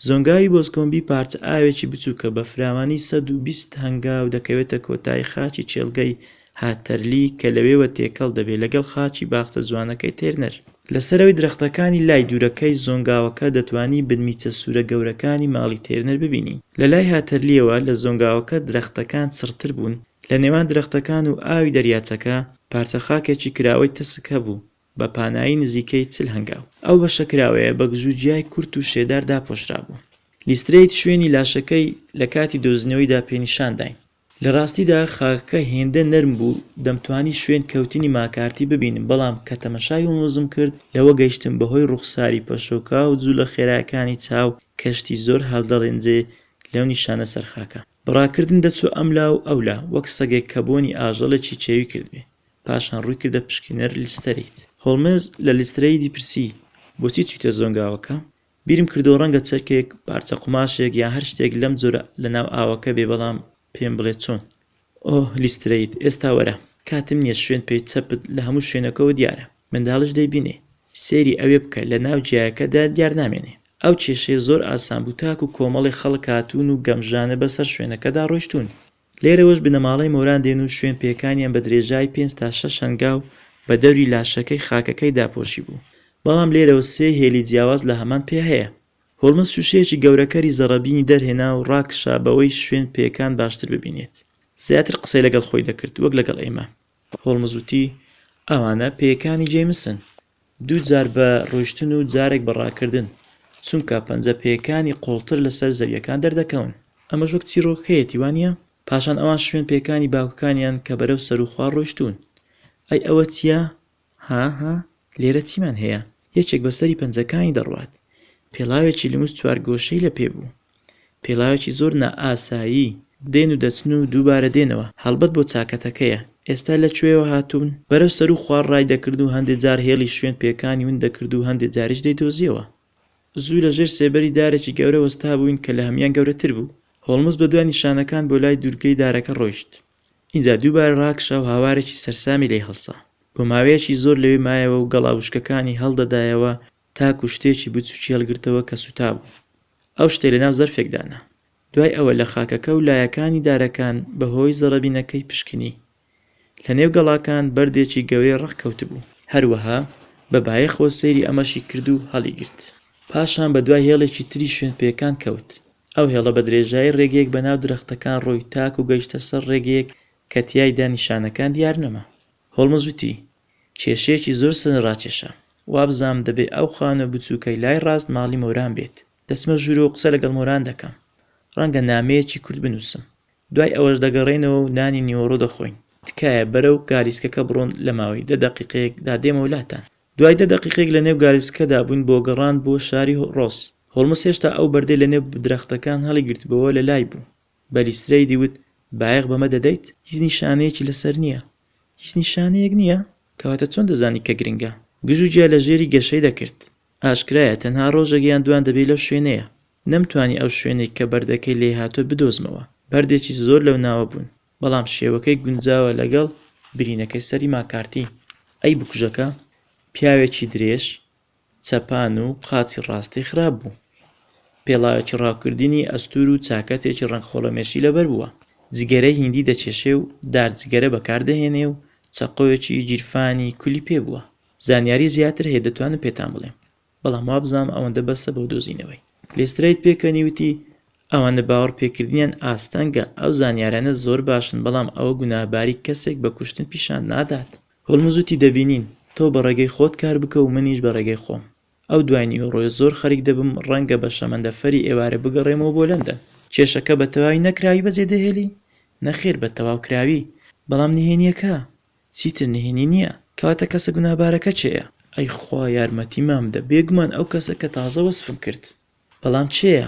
زۆنگاوی بۆزکۆمبی پارچە ئاوێکی بچووکە بە فراوانی 120 هەنگاو دەکەوێتە کۆتایی خاکی کێڵگەی هاتەرلی کە لەوێوە تێکەڵ دەبێت لەگەڵ خاکی باخچە جوانەکەی تێرنەر. لە سەرەوەی درەختەکانی لای دوورەکەی زۆنگاوەکە دەتوانی بنمیچە سوورە گەورەکانی ماڵی تێرنەر ببینی. لە لای هاتەرلییەوە لە زۆنگاوەکە درەختەکان چڕتر بوون، لە نێوان درەختەکان و ئاوی دەریاچەکە پارچە خاکێکی کراوەی تەسک هەبوو، بە پانایی نزیکەی چل هەنگاو. ئەو بەشە کراوەیە بە گزو جیای کورت و شێدار داپۆشرابوو. لیسترەیت شوێنی لاشەکەی لە کاتی دۆزینەوەیدا پێنیشان داین. لە ڕاستیدا خاکەکە هێندە نەرم بوو دەمتوانی شوێن کەوتنی ماکارتی ببینم بەڵام کە تەمەشای هۆمزم کرد لەوە گەیشتم بە هۆی ڕوخساری پەشۆکاو جولە خێراکانی چاو کەشتی زۆر هەلدەڵێنجێ لەو نیشانە سەر خاکە بڕاکردن دەچوو ئەم لا و ئەو لا، وەک سەگێک کە بۆنی ئاژەڵێکی چێوی کردبێ. پاشان ڕووی کردە پشکینەر لیسترەیت. هۆڵمز لە لیسترەیتی پرسی، بۆچی چوویتە زۆنگاوەکە؟ بیرم کردووە ڕەنگە چەکێک، پارچە قوماشێک یا هەر شتێک لەم جۆرە لە ناو ئاوەکە بێ بەڵام پێم بڵێ چۆن؟ ئۆه لیسترەیت، ئێستا وەرە. کاتم نییە شوێن پێی چەپت لە هەموو شوێنەکەوە دیارە. منداڵیش دەیبینێ. سەیری ئەوێ بکە لە ناو گیایەکەدا دیار نامێنێ. ئەو کێشەیە زۆر ئاسان بوو تاکوو کۆمەڵێ خەڵک هاتوون و گەمژانە بە سەر شوێنەکەدا ڕۆیشتوون. لێرەوەش بنەماڵەی مۆران دێن و شوێن پێکانیان بە درێژای پێنج تا شەش هەنگاو بە دەوری لاشەکەی خاکەکەی داپۆشی بوو. بەڵام لێرەوە سێ هێلی جیاواز لە هەمان پێ هەیە. هۆڵمز شووشەیەکی گەورەکەری زەڕەبینی دەرهێنا و ڕاکشا بەوەی شوێن پێکان باشتر ببینێت. زیاتر قسەی لەگەڵ خۆی دەکرد وەک لەگەڵ ئێمە. هۆڵمز وتی، ئەوانە پێیەکانی جەیمسن، دوو جار بە ڕۆیشتن و جارێک بە ڕاکردن، چونکە پەنجە پێیەکانی قووڵتر لەسەر زەوییەکان دەردەکەون. ئەمەش وەک چیڕۆکەکەیەتی، وانییە؟ پاشان ئەوان شوێن پێیەکانی باوکەکانیان کە بەرەو سەروو خوار ڕۆیشتوون. ئەی ئەوە چییە؟ ها ها لێرە چیمان هەیە؟ یەکێک بە سەری پەنجەکانی دەڕوات. پێڵاوێکی لمس چوارگۆشەی لە پێ بوو. پێڵاوێکی زۆر نائاسایی. دێن و دەچن و دووبارە دێنەوە. هەڵبەت بۆ چاکەتەکەیە. ئێستا لە کوێوە هاتوون؟ بەرەو سەروو خوار ڕای دەکرد و هەندێ جار هێڵی شوێن پێکانی ون دەکرد و هەندێ جاریش دەیدۆزییەوە. زوو لە ژێر سێبەری دارێکی گەورە وەستابووین کە لە هەموان گەورەتر بوو. هۆڵمز بە دوای نیشانەکان بۆ لای دوورگەی دارەکە ڕۆیشت. ئینجا دووبارە ڕاکشا و هاوارێکی سەرسامی لێ هەڵسا. بۆ ماوەیەکی زۆر لەوێ مایەوە و گەڵا وشکەکانی هەڵدەدایەوە تاکوو شتێکی بچووکی هەڵگرتەوە کە سووتابوو. ئەو شتەی لەناو زەرفێک دانا. دوای ئەوە لە خاکەکە و لایەکانی دارەکان بە هۆی زەڕەبینەکەی پشکنی. لە نێو گەڵاکان بەردێکی گەورەی ڕەق کەوتبوو. هەروەها بە بایەخەوە سەیری ئەمەشی کرد و هەڵیگرت. پاشان بە دوای هێڵێکی تری شوێنپێکان کەوت. ئەو هێڵە بە درێژایی ڕێگەیەک بە ناو درەختەکان ڕۆی تاکو گەیشتە سەر ڕێگەیەک کە تیایدا نیشانەکان دیار نەما. هۆڵمز وتی، کێشەیەکی زۆر سەرنج ڕاکێشە. وابزانم دەبێ ئەو خانووە بچووکەی لای ڕاست ماڵی مۆران بێت. دەچمە ژوورەوە و قسە لەگەڵ مۆران دەکەم. ڕەنگە نامەیەکی کورت بنووسم. دوای ئەوەش دەگەڕێینەوە و نانی نیوەڕۆ دەخۆین. تکایە بەرەو گالیسکەکە بڕۆن لە ماوەی دە دەقیقەیەک دا دێمەوە لاتان. دوای دە دەقیقەیەک لە نێو گالیسکەدا بووین بۆ گەڕان بۆ شاری ڕۆس. هۆڵمز هێشتا ئەو بەردەی لە نێو درەختەکان هەڵیگرتبۆوە لە لای بوو. بە لیسترەیدی وت، بایەخ بەمە دەدەیت؟ هیچ نیشانەیەکی لەسەر نییە. هیچ نیشانەیەک نییە؟ کەواتە چۆن دەزانی کە گرنگە؟ گژوگیا لە ژێری گەشەی دەکرد. ئاشکرایە تەنها ڕۆژێک یان دووان دەبێی لەو شوێنەیە. نەمتوانی ئەو شوێنەی کە بەردەکەی لێی هاتووە بدۆزمەوە. بەردێکی زۆر لەو ناوە بوون. بەڵام شێوەکەی گونجاوە لەگەڵ برینەکەی سەری ماکارتی. ئەی بکوژەکە پیاوێکی درێژ چەپان و قاچی ڕاستی خراپ بوو. پێڵاوێکی ڕاوکردنی ئەستوور و چاکەتێکی ڕەنگ خۆڵەمێشی لەبەر بووە. جگەرەی هیندی دەکێشێ و دار جگەرە بەکار دەهێنێ و چەقۆیەکی گیرفانی کولی پێ بووە. زانیاری زیاتر هەیە دەتوانم پێتان بڵێم. بەڵام وابزانم ئەوەندە بەسە بۆ دۆزینەوەی. لیسترەیت پێکەنی وتی، ئەوانە باوەڕ پێکردنیان ئاستەنگە، ئەو زانیارانە زۆر باشن بەڵام ئەوە گوناهباری کەسێک بە کوشتن پیشان نادات. هۆڵمز وتی، دەبینین، تۆ بە ڕێگەی خۆت کار بکە و منیش بە ڕێگەی خۆم. ئەو دوای نیوەڕۆیە زۆر خەریک دەبم ڕەنگە بە شەمەندەفەری ئێوارە بگەڕێمەوە بۆ لەندەن. کێشەکە بە تەواوی نەکراوی بەجێ دەهێلی؟ نەخێر بە تەواو کراوی. بەڵام نهێنییەکە؟ چیتر نهێنی نیە کەواتە کەسە گوناهبارەکە کێیە؟ ئەی خوا یارمەتیمان بدە بێگومان ئەو کەسە کە تازە وەسفم کرد بەڵام کێیە؟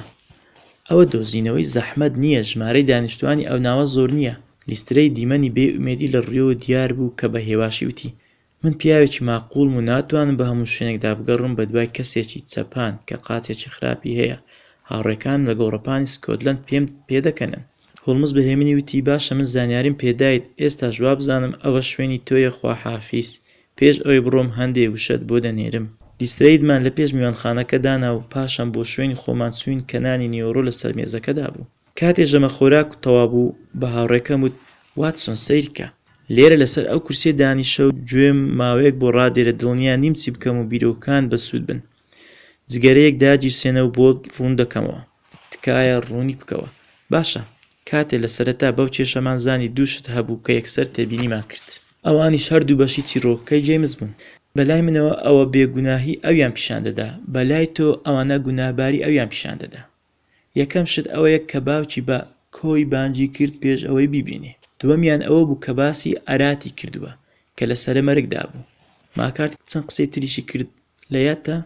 ئەوە دۆزینەوەی زەحمەت نیە ژمارەی دانیشتوانی ئەوناوە زۆرنیە لیسترەی دیمەنی بێ ئومێدی لە ڕویەوە دیار بوو کە بە هێواشی وتی من پیاوێکی ماقوڵم و ناتوانم بە هەموو شوێنێکدا بگەڕم بە دوای کەسێکی چەپان کە قاچێکی خراپی هەیە هاوڕێکانم لە گۆڕەپانی سکۆتلەند پێم پێدەکەنن هۆڵمز بە هێمنی وتی، باشە من زانیاریم پێ دایت، ئێستاش وابزانم ئەوە شوێنی تۆیە خواحافیز، پێش ئەوەی بڕۆم هەندێ وشەت بۆ دەنێرم. لیسترەیدمان لە پێش میوانخانەکە دانا و پاشان بۆ شوێنی خۆمان چووین کە نانی نیوەڕۆ لە سەر مێزەکەدا بوو. کاتێ ژەمە خۆراک تەواو بوو بە هاوڕێکەم وت، واتسۆن سەیرکە. لێرە لە سەر ئەو کورسیە دانیشە و گوێم ماوەیەک بۆ ڕادێرە دڵنیا نیم چی بکەم و بیرۆکەکانت بەسوود بن. جگەرەیەک داگیرسێنە و بۆت ڕوون دەکەمەوە. تکایە ڕوونی بکەوە. باشە، کاتێ لە سەرەتا بەو کێشەمان زانی دوو شت هەبوو کە یەکسەر تێبینیمان کرد. ئەوانیش هەردوو بەشی چیڕۆکەکەی جەیمس بوون. بە لای منەوە ئەوە بێگوناهی ئەویان پیشان دەدا، بە لای تۆ ئەوانە گوناهباری ئەویان پیشان دەدا. یەکەم شت ئەوەیە کە باوکی بە، کۆی، بانگی کرد پێش ئەوەی بیبینی. دووەمیان ئەوە بوو کە باسی، ئاراتی، کردووە کە لە سەرە مەرگدا بوو. ماکارتی چەند قسەی تریشی کرد لە یادتە،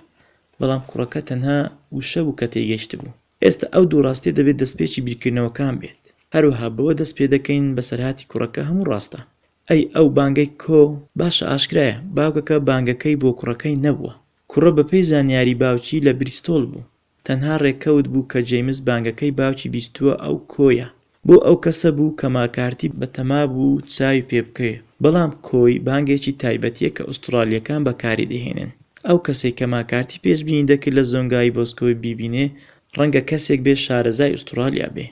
بەڵام کوڕەکە تەنها وشە بوو کە تێیگەیشتبوو. ئێستا ئەو دوو ڕاستیە دەبێت دەستپێکی بیرکردنەوەکان بێت. هەروەها بەوە دەست پێدەکەین بەسەرهاتی کوڕەکە هەموو ڕاستە. ئەی ئەو بانگەی، کۆ، باشە ئاشکرایە باوکەکە بانگەکەی بۆ کوڕەکەی نەبووە. کوڕە بەپێی زانیاری باوکی لە بریستۆڵ بوو. تەنها ڕێکەوت بوو کە جەیمس بانگەکەی باوکی بیستووە ئەو کۆیە بۆ ئەو کەسە بوو کە ماکارتی بەتەما بوو چاوی پێ بکەوێ بەڵام کۆی بانگێکی تایبەتیە کە ئوستڕالیەکان بەکاری دەهێنن ئەو کەسەی کە ماکارتی پێشبینی دەکرد لە زۆنگاوی بۆسکۆی بیبینێ ڕەنگە کەسێک بێ شارەزای ئوستڕالیا بێ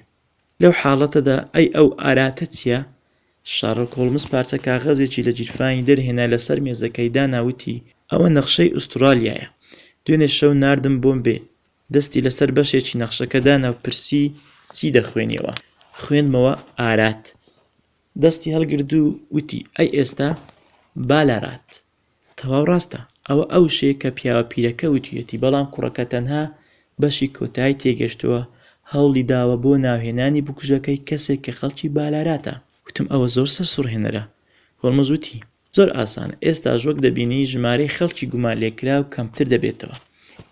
لەو حاڵەتەدا ئەی ئەو ئاراتە چیە؟ شارڵک هۆڵمز پارچە کاغەزێکی لە گیرفانی دەرهێنا لەسەر مێزەکەی دانا وتی، ئەوە نەخشەی ئوستڕالیایە. دوێنێ شەو ناردم بۆم بێ. دەستی لەسەر بەشێکی نەخشەکە دانا و پرسی، چی دەخوێنیەوە؟ خوێندمەوە، ئارات. دەستی هەڵگرت و وتی، ئەی ئێستا بالارات؟ تەواو ڕاستە، ئەوە ئەو شتەیە کە پیاوە پیرەکە وتویەتی، بەڵام کوڕەکە تەنها بەشی کۆتایی تێگەشتووە، هەوڵی داوە بۆ ناوهێنانی بکوژەکەی کەسێک کە خەڵکی بالاراتە. وتم ئەوە زۆر سەرسوڕهێنەرە. هۆڵمز وتی، زۆر ئاسانە، ئێستاش وەک دەبینی ژمارەی خەڵکی گومانلێکراو کەمتر دەبێتەوە.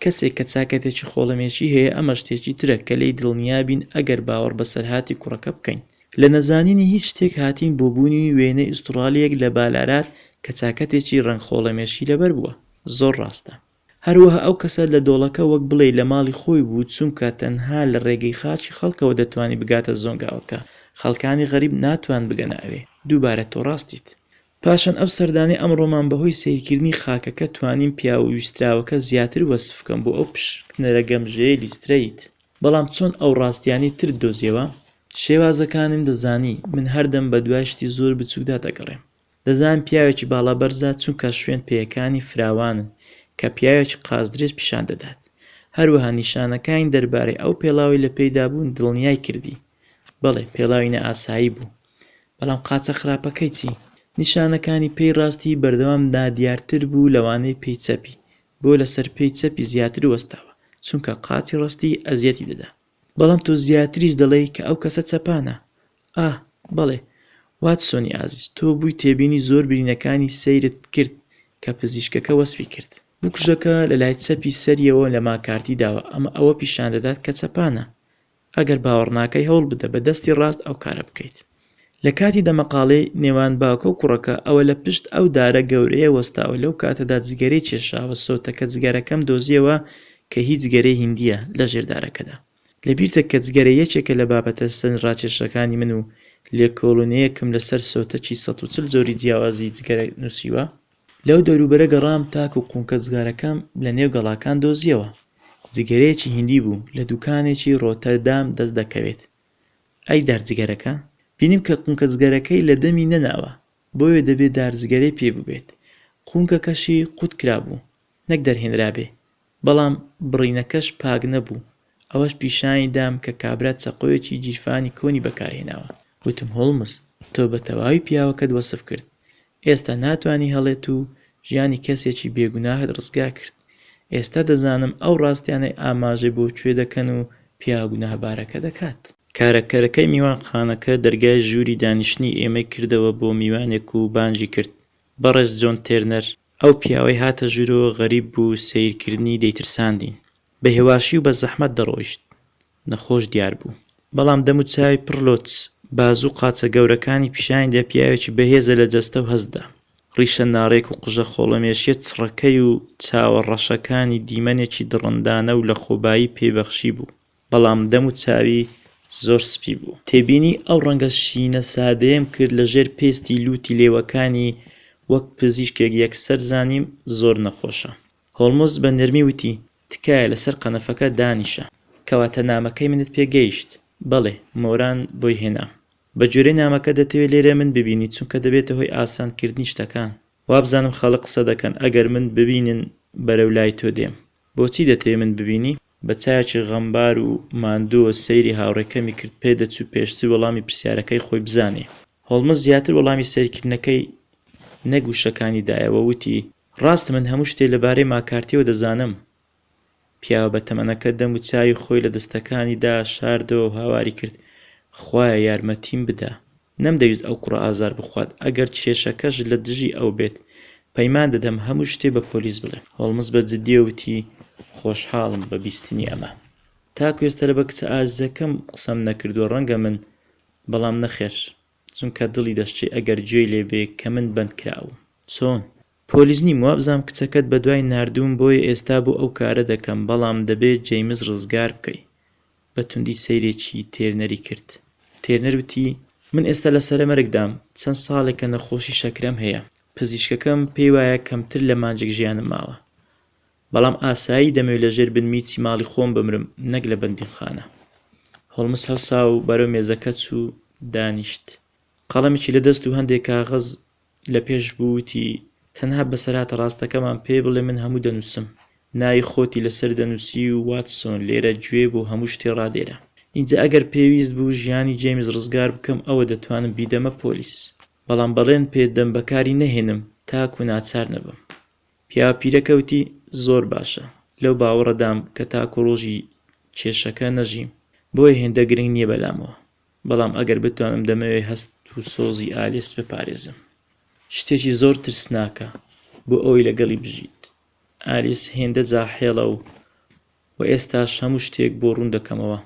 کەسێک کە چاکەتێکی خۆڵەمێشی هەیە ئەمە شتێکی ترە کە لێی دڵنیابین ئەگەر باوەڕ بەسەرهاتی کوڕەکە بکەین. لە نەزانینی هیچ شتێک هاتین بۆ بوونی وێنەی ئوستڕالییەک لە بالارات کە چاکەتێکی ڕەنگ خۆڵەمێشی لەبەر بووە. زۆر ڕاستە. هەروەها ئەو کەسە لە دۆڵەکە وەک بڵێی لە ماڵی خۆی بوو چونکە تەنها لە ڕێگەی خاچی خەڵکەوە دەتوانی بگاتە زۆنگاوەکە، خەڵکانی غەریب ناتوان بگەنە ئەوێ. دووبارە تۆ ڕاستیت. پاشان ئەو سەردانەی ئەمڕۆمان بەهۆی سەیرکردنی خاکەکە توانیم پیاوە ویستراوەکە زیاتر وەسف بکەم بۆ ئەو پشکنەرە گەمژەیەی لیسترەیت. بەڵام چۆن ئەو ڕاستیانەی ترت دۆزیەوە؟ شێوازەکانم دەزانی، من هەردەم بەدوای شتی زۆر بچوکدا دەگەڕێم. دەزانم پیاوێکی باڵا بەرزە چونکا شوێن پێیەکانی فراوانن کە پیاوێکی قازدرێژ پیشان دەدات. هەروەها نیشانەکانی دەربارەی ئەو پێڵاوەی لە پێیدا بوون دڵنیای کردی. بەڵێ پێڵاوی نائاسایی بوو. بەڵام قاچە خراپەکەی چی؟ نیشانەکانی پێی ڕاستی بەردەوام نادیارتر بوو لەوانەی پێی چەپی. بۆ لەسەر پێی چەپی زیاتر وەستاوە چونکە قاچی ڕەستی ئەزیەتی دەدا. بەڵام تۆ زیاتریش دەڵێی کە ئەو کەسە چەپانە. ئا بەڵێ واتسۆنی ئازیز تۆ بووی تێبینی زۆر برینەکانی سەیرت کرد کە پزیشکەکە وەسفی کرد. بکوژەکە لە لای چەپی سەریەوە لە ماکارتی داوە ئەمە ئەوە پیشان دەدات کە چەپانە ئەگەر باوەڕناکەی هەوڵبدە بە دەستی ڕاست ئەو کارە بکەیت. لە کاتی دەمەقاڵێی نێوان باوکە و کوڕەکە ئەوە لە پشت ئەو دارە گەورەیە وەستاوە لەو کاتەدا جگەرەی کێشاوە سۆتەکە جگەرەکەم دۆزیەوە کە هی جگەرەی هیندیە لە ژێر دارەکەدا لەبیرتە کە جگەرە یەکێکە لە بابەتە سەرنراکێشەکانی من و لێکۆڵینەیەکم لەسەر سۆتەکی سەد و چل جۆری جیاوازی جگەرە نوسیوە لەو دەوروبەرە گەڕام تاکو قونکەجگەرەکەم لە نێو گەڵاکان دۆزییەوە. جگەرەیەکی هیندی بوو لە دوکانێکی ڕۆتەردام دەست دەکەوێت. ئەی دارجگەرەکە؟ بینیم کە قونکەجگەرەکەی لە دەمی نەناوە، بۆیە دەبێ دارجگەرەی پێ بووبێت. قونکەکەشی قوتکرابوو. نەک دەرهێنرابێ، بەڵام بڕینەکەش پاک نەبوو، ئەوەش پیشانی دام کە کابرا چەقۆیەکی گیرفانی کۆنی بەکارهێناوە. وتم هۆڵمز، تۆ بە تەواوی پیاوەکەت وەسف کرد، ئێستا ناتوانی هەڵێت و ژیانی کەسێکی بێ گوناهت ڕزگار کرد، ئێستا دەزانم ئەو ڕاستیانەی ئاماژەی بۆ کوێ دەکەن و پیاوە گوناهبارەکە دەکات. کارەکەرەکەی میوانخانەکە دەرگای ژووری دانیشتنی ئێمەی کردەوە بۆ میوانێک و بانگی کرد، بەڕێز جۆن تێرنەر! ئەو پیاوەی هاتە ژوورۆ غەریب بوو سەیر کردنی دەیترساندی بە هێواشی و بە زەحمەت دەڕۆیشت نەخۆش دیار بوو بەڵام دەم و چاوی پڕ لۆچ بازو قاچە گەورەکانی پیشانی دا پیاوێکی بەهێزە لە جەستە و هەستدا ڕیشە ناڕێک و قژە خۆڵەمێشیە چڕەکەی و چاوە ڕەشەکانی دیمەنێکی دڕندانە و لە خۆبایی پێی بەخشی بوو بەڵام دەم و چاوی زۆر سپی بوو. تێبینی ئەو ڕەنگە شینە سادەیەم کرد لە ژێر پێستی لووتی لێوەکانی، وەک پزیشکێک یەکسەر زانیم زۆر نەخۆشە. هۆڵمز بە نەرمی وتی، تکایە لەسەر قەنەفەکە دانیشە. کەواتە نامەکەی منت پێ گەیشت؟ بەڵێ، مۆران بۆی هێنام. بە گوێرەی نامەکە دەتەوێ لێرە من ببینی چونکە دەبێتە هۆی ئاسانکردنی شتەکان. وابزانم خەڵک قسە دەکەن ئەگەر من ببینن بەرەو لای تۆ دێم. بۆچی دەتەوێ من ببینی؟ بە چاوێکی غەمبار و ماندوو سەیری هاوڕێکەمی کرد، پێدەچوو پێشتر وەڵامی پرسیارەکەی خۆی بزانێ. هۆڵمز زیاتر وەڵامی سەیرکردنەکەی نەک وشەکانی دایەوە، وتی، ڕاستە من هەموو شتێ لەبارەی ماکارتییەوە دەزانم. پیاوە بەتەمەنەکە دەموچاوی خۆی لە دەستەکانیدا شاردەوە و هاواری کرد، خوایە یارمەتیم بدە. نەمدەویست ئەو کوڕە ئازار بخوات ئەگەر کێشەکەش لە دژی ئەو بێت. پەیمان دەدەم هەموو شتێ بە پۆلیس بڵێ. هۆڵمز بە جدییەوە وتی، خۆشحاڵم بە بیستنی ئەمە. تاکو ئێستا لە بە کچە ئازیزەکەم قسەم نەکردووە ڕەنگە من بەڵام نەخێر چونکە دڵی دەشچێ ئەگەر گوێی لێ بێ کە من بەند کراوم. چۆن؟ پۆلیس نیم وابزام کچەکەت بەدوای ناردووم بۆیە ئێستا بۆ ئەو کارە دەکەم بەڵام دەبێ جەیمس ڕزگار بکەی بە توندی سەیرێکی تێرنەری کرد. تێرنەر وتی، من ئێستا لە سەرەمەرگدام، چەند ساڵێکە نەخۆشی شەکرەم هەیە. پزیشکەکەم پێی وایە کەمتر لە مانجێک ژیانم ماوە. بەڵام ئاسایی دەمەوێت لەژێر بن میچی ماڵی خۆم بمرم نەک لە بەندینخانە. هۆڵمز هەڵسا و بەرەو مێزەکە چوو دانیشت. قەڵەمێکی لە دەست و هەندێک کاغەز لە پێش بووتی تەنها بەسەرهاتە ڕاستەکەمان پێ بڵێ من هەموو دەنووسم ناوی خۆتی لەسەر دەنووسی و واتسۆن لێرە گوێ بۆ هەموو شتێ ڕادێرە ئینجا ئەگەر پێویست بوو ژیانی جەیمس ڕزگار بکەم ئەوە دەتوانم بیدەمە پۆلیس بەڵام بەڵێن پێ دەم بەکاری نەهێنم تاکو ناچار نەبم پیاوە پیرەکە وتی زۆر باشە لەو باوەڕەدام کە تاکو ڕۆژی کێشەکە نەژیم بۆیە هێندە گرنگ نیە بەلامەوە. بەڵام ئەگەر بتوانم دەمەوێت هەست و سۆزی ئالیس بپارێزم. شتێکی زۆر ترسناکە بۆ ئەوەی لەگەڵی بژیت. ئالیس هێندە جاحێڵە و و ئێستاش هەموو شتێک بۆ ڕوون دەکەمەوە.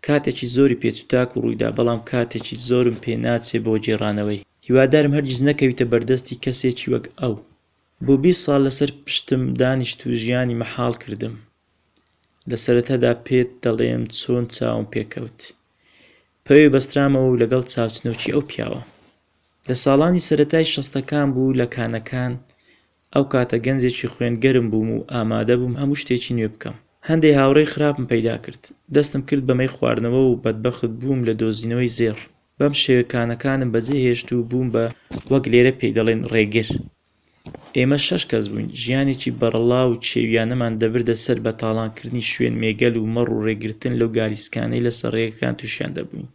کاتێکی زۆری پێچوتاک و ڕوویدا بەڵام کاتێکی زۆرم پێ ناچێت بۆ گێڕانەوەی. هیوادارم هەرگیز نەکەویتە بەردەستی کەسێکی وەک ئەو. بۆ بیست ساڵ لەسەر پشتم دانیشت و ژیانی مەحاڵ کردم. لە سەرەتادا پێت دەڵێم چۆن چاوم پێکەوت پەوێ بەسترامەوە و لەگەڵ چاوچنۆکی ئەو پیاوە لە ساڵانی سەرەتای شەستەکان بوو لە کانەکان ئەو کاتە گەنجێکی خوێنگەرم بووم و ئامادە بووم هەموو شتێکی نوێ بکەم هەندێ هاوڕێی خراپم پەیدا کرد دەستم کرد بە مەی خواردنەوە و بەدبەخت بووم لە دۆزینەوەی زێڕ بەم شێوە کانەکانم بەجێ هێشت و بووم بە وەک لێرە پێی دەڵێن ڕێگر ئێمە شەش کەس بووین، ژیانێکی بەرەڵا و چێوییانەمان دەبردە سەر بە تاڵانکردنی شوێن مێگەل و مەڕ و ڕێگرتن لەو گالیسکانەی لەسەر ڕێگەکان تووشیان دەبووین.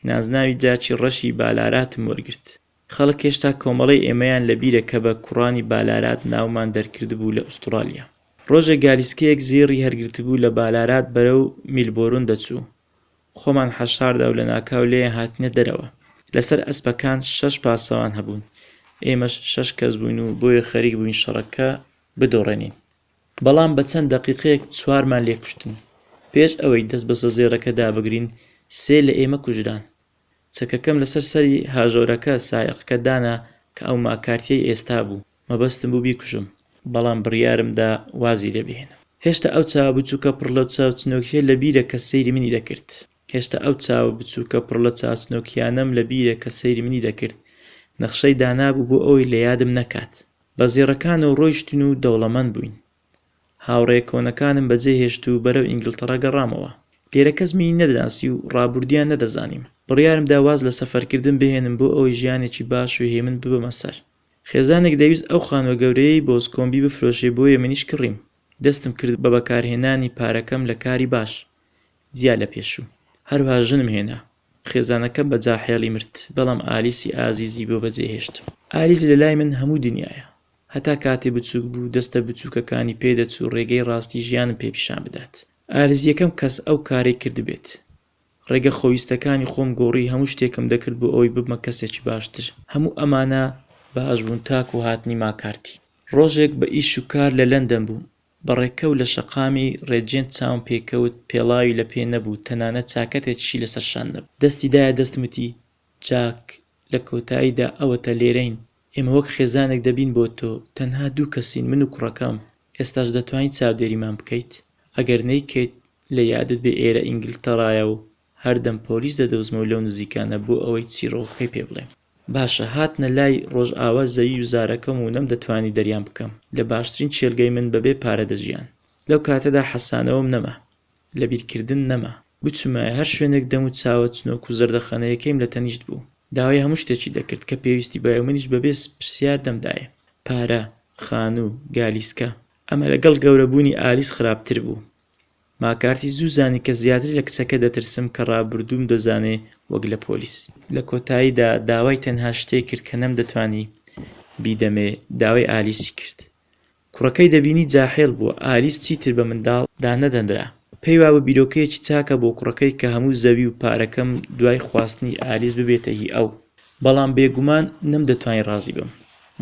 نازناوی جاکی ڕەشی بالاراتم وەرگرت. خەڵک هێشتا کۆمەڵەی ئێمەیان لە بیرە کە بە کوڕانی بالارات ناومان دەرکردبوو لە ئوستڕالیا. ڕۆژێک گالیسکەیەک زێڕی هەرگرتبوو لە بالارات بەرەو میلبۆرن دەچوو. خۆمان حەشاردا و لەناکاو لێیان هاتینە دەرەوە. لەسەر ئەسپەکان شەش پاسەوان هەبوون، ئێمەش شەش کەس بووین و بۆیە خەریک بووین شەڕەکە بدۆڕێنین. بەڵام بە چەند دەقیقەیەک چوارمان لێ کوشتن. پێش ئەوەی دەست بەسە زێڕەکەدا بگرین، سێ لە ئێمە کوژران. چەکەکەم لەسەر سەری هاژۆرەکە، سایەقەکە، دانا کە ئەو ماکارتییەی ئێستا بوو. مەبەستم بوو بیکوژم، بەڵام بڕیارم دا وازی لێ بهێنم. هێشتا ئەو چاوە بچووکە پڕ لە چاوچنۆکییە لە بیرە کە سەیری منی دەکرد. هێشتا ئەو چاوە بچووکە پڕ لە چاوچنۆکییانەم لە بیرە کە سەیری منی دەکرد. نەخشەی دانابوو بۆ ئەوەی لە یادم نەکات. بە زێڕەکانەوە ڕۆیشتین و دەوڵەمەند بووین. هاوڕێیە کۆنەکانم بەجێ هێشت و بەرەو ئینگڵتەڕا گەڕامەوە. لێرە کەس منی نەدەناسی و ڕابوردیان نەدەزانیم. بڕیارم دا واز لە سەفەرکردن بهێنم بۆ ئەوەی ژیانێکی باش و هێمن ببەمە سەر. خێزانێک دەویست ئەو خانوە گەورەیەی بۆزکۆمبی بفرۆشێ بۆیە منیش کڕیم، دەستم کرد بە بەکارهێنانی پارەکەم لە کاری باش جیا لە پێشوو، هەروها ژنم هێنا، خێزانەکەم بە جاحێڵی مرد، بەڵام ئالیسی ئازیزی بۆ بەجێهێشتم. ئالیس لە لای من هەموو دنیایە، هەتا کاتێ بچووک بوو دەستە بچووکەکانی پێ دەچوو ڕێگەی ڕاستی ژیانم پێ پیشان بدات، ئالیس یەکەم کەس ئەو کارەی کردبێت، ڕێگە خۆویستەکانی خۆم گۆڕی هەموو شتێکم دەکرد بۆ ئەوەی ببمە کەسێکی باشتر هەموو ئەمانە باش بوون تاکو هاتنی ماکارتی ڕۆژێک بە ئیش و کار لە لەندەن بووم بە ڕێکەوت لە شەقامی ڕێجێنت چاوم پێی کەوت پێڵاوی لە پێ نەبوو تەنانەت چاکەتێکیشی لەسەر شان نەبوو دەستی دایە دەستم وتی جاک لە کۆتاییدا ئەوەتە لێرەین ئێمە وەک خێزانێک دەبین بۆ تۆ، تەنها دوو کەسین من و کوڕەکەم، ئێستاش دەتوانیت چاودێریمان بکەیت؟ ئەگەر نەیکەیت لە یادت بێ ئێرە ئینگلتەڕایە و هەردەم پۆلیس دەدۆزمەوە لەو نزیکانە بۆ ئەوەی چیڕۆکەکەی پێ بڵێم. باشە هاتنە لای ڕۆژئاوا زەوی و زارەکەم و نەمدەتوانی دەریان بکەم لە باشترین کێلگەی من بەبێ پارە دەژیان لەو کاتەدا حەسانەوەم نەما لە بیرکردن نەما. بچمایە هەر شوێنێک دەم و چاوە چنۆک و زەردەخەنەیەکەیم لە تەنیشت بوو. داوای هەموو شتێکی دەکرد کە پێویستی بایە و منیش بەبێ پرسیار دەمدایێ. پارە، خانوو، گالیسکە. ئەمە لەگەڵ گەورەبوونی ئالیس خراپتر بوو. ماکارتی زوو زانی کە زیاتر لە کچەکە دەترسم کە ڕابردووم دەزانێ وەک لە پۆلیس. لە کۆتاییدا داوای تەنها شتێک کرد کە نەمدەتوانی بیدەمێ، داوای ئالیسی کرد. کوڕەکەی دەبینی جاحێڵ بووە، ئالیس چیتر بە منداڵ دانەدەنرا. پێی وابوو بیرۆکەیەکی چاکە بۆ کوڕەکەی کە هەموو زەوی و پارەکەم دوای خواستنی ئالیس ببێتە هی ئەو. بەڵام بێگومان نەمدەتوانی ڕازی بم.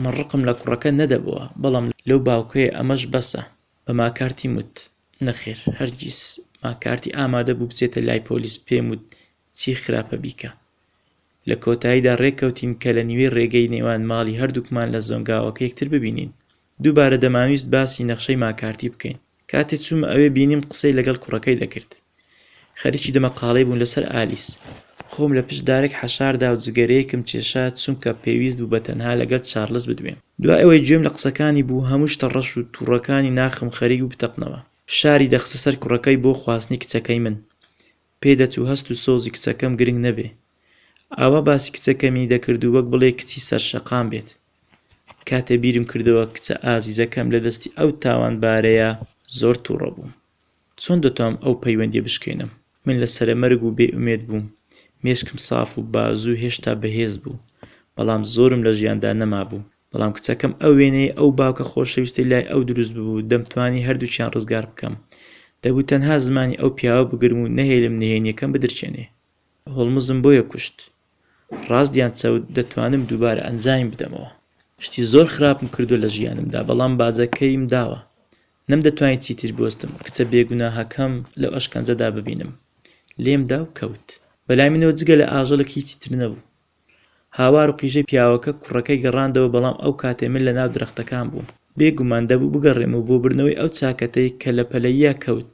من ڕقم لە کوڕەکە نەدەبۆوە، بەڵام لەو باوکەیە ئەمەش بەسە. بە ماکارتیم وت، نەخێر، هەرگیز. ماکارتی ئامادە بوو بچێتە لای پۆلیس، پێم وت، چی خراپە بیکە. لە کۆتاییدا رێککەوتین کە لە نیوەی رێگەی نێوان ماڵی هەردووکمان لە زۆنگاوەکە یەکتر ببینین. دووبارە دەمانویست باسی نەخشەی ماکارتی بکەین. کاتێ چوومە ئەوێ بینیم قسەی لەگەڵ کوڕەکەی دەکرد. خەریکی دەمەقاڵێ بوون لەسەر ئالیس. خۆم لە پشت دارێک حەشاردا و جگەرەیەکم کێشا چونکە پێویست بوو بە تەنها لەگەڵ چارلس بدوێم. دوای ئەوەی گوێم لە قسەکانی بوو هەموو شتە رەش و توڕەکانی ناخم خەریک بوو بتەقنەوە. فشاری دەخستە سەر کوڕەکەی بۆ خواستنی کچەکەی من. پێی دەچوو هەست و سۆزی کچەکەم گرنگ نەبێ. ئاوا باسی کچەکەمی دەکرد و وەک بڵێی کچی سەرشەقام بێت. کاتێ بیرم کردەوە کچە ئازیزەکەم لە دەستی ئەو تاوانبارەیە زۆر توڕە بووم. چۆن دەتوام ئەو پەیوەندیە بشکێنم؟ من لە سەرەمەرگ و بێ ئومێد بووم. مێشکم ساف و بازوو هێشتا بەهێز بوو. بەڵام زۆرم لە ژیاندا نەمابوو. بەڵام کچەکەم ئەو وێنەی ئەو باوکە خۆشەویستەی لای ئەو دروست ببوو، دەمتوانی هەردووکیان ڕزگار بکەم. دەبوو تەنها زمانی ئەو پیاوە بگرم و نەهێلم نهێنییەکەم بدرکێنێ. هۆڵمزم بۆیە کوشت. ڕاست یان چەوت، دەتوانم دووبارە ئەنجامی بدەمەوە. شتی زۆر خراپم کردووە لە ژیانمدا، بەڵام باجەکەیم داوە. نەمدەتوانی چیتر بوەستم، کچە بێگوناهەکەم لەو ئەشکەنجەدا ببینم. لێمدا و کەوت. بەلای منەوە جگە لە ئاژەڵێک هیچی تر نەبوو. هاوار و قیژەی پیاوەکە کوڕەکەی گەڕاندەوە بەڵام ئەو کاتەی من لەناو درەختەکان بووم بێ گومان دەبوو بگەڕێم و بۆ بردنەوەی ئەو چاکەتەی کە لە پەلەییا کەوت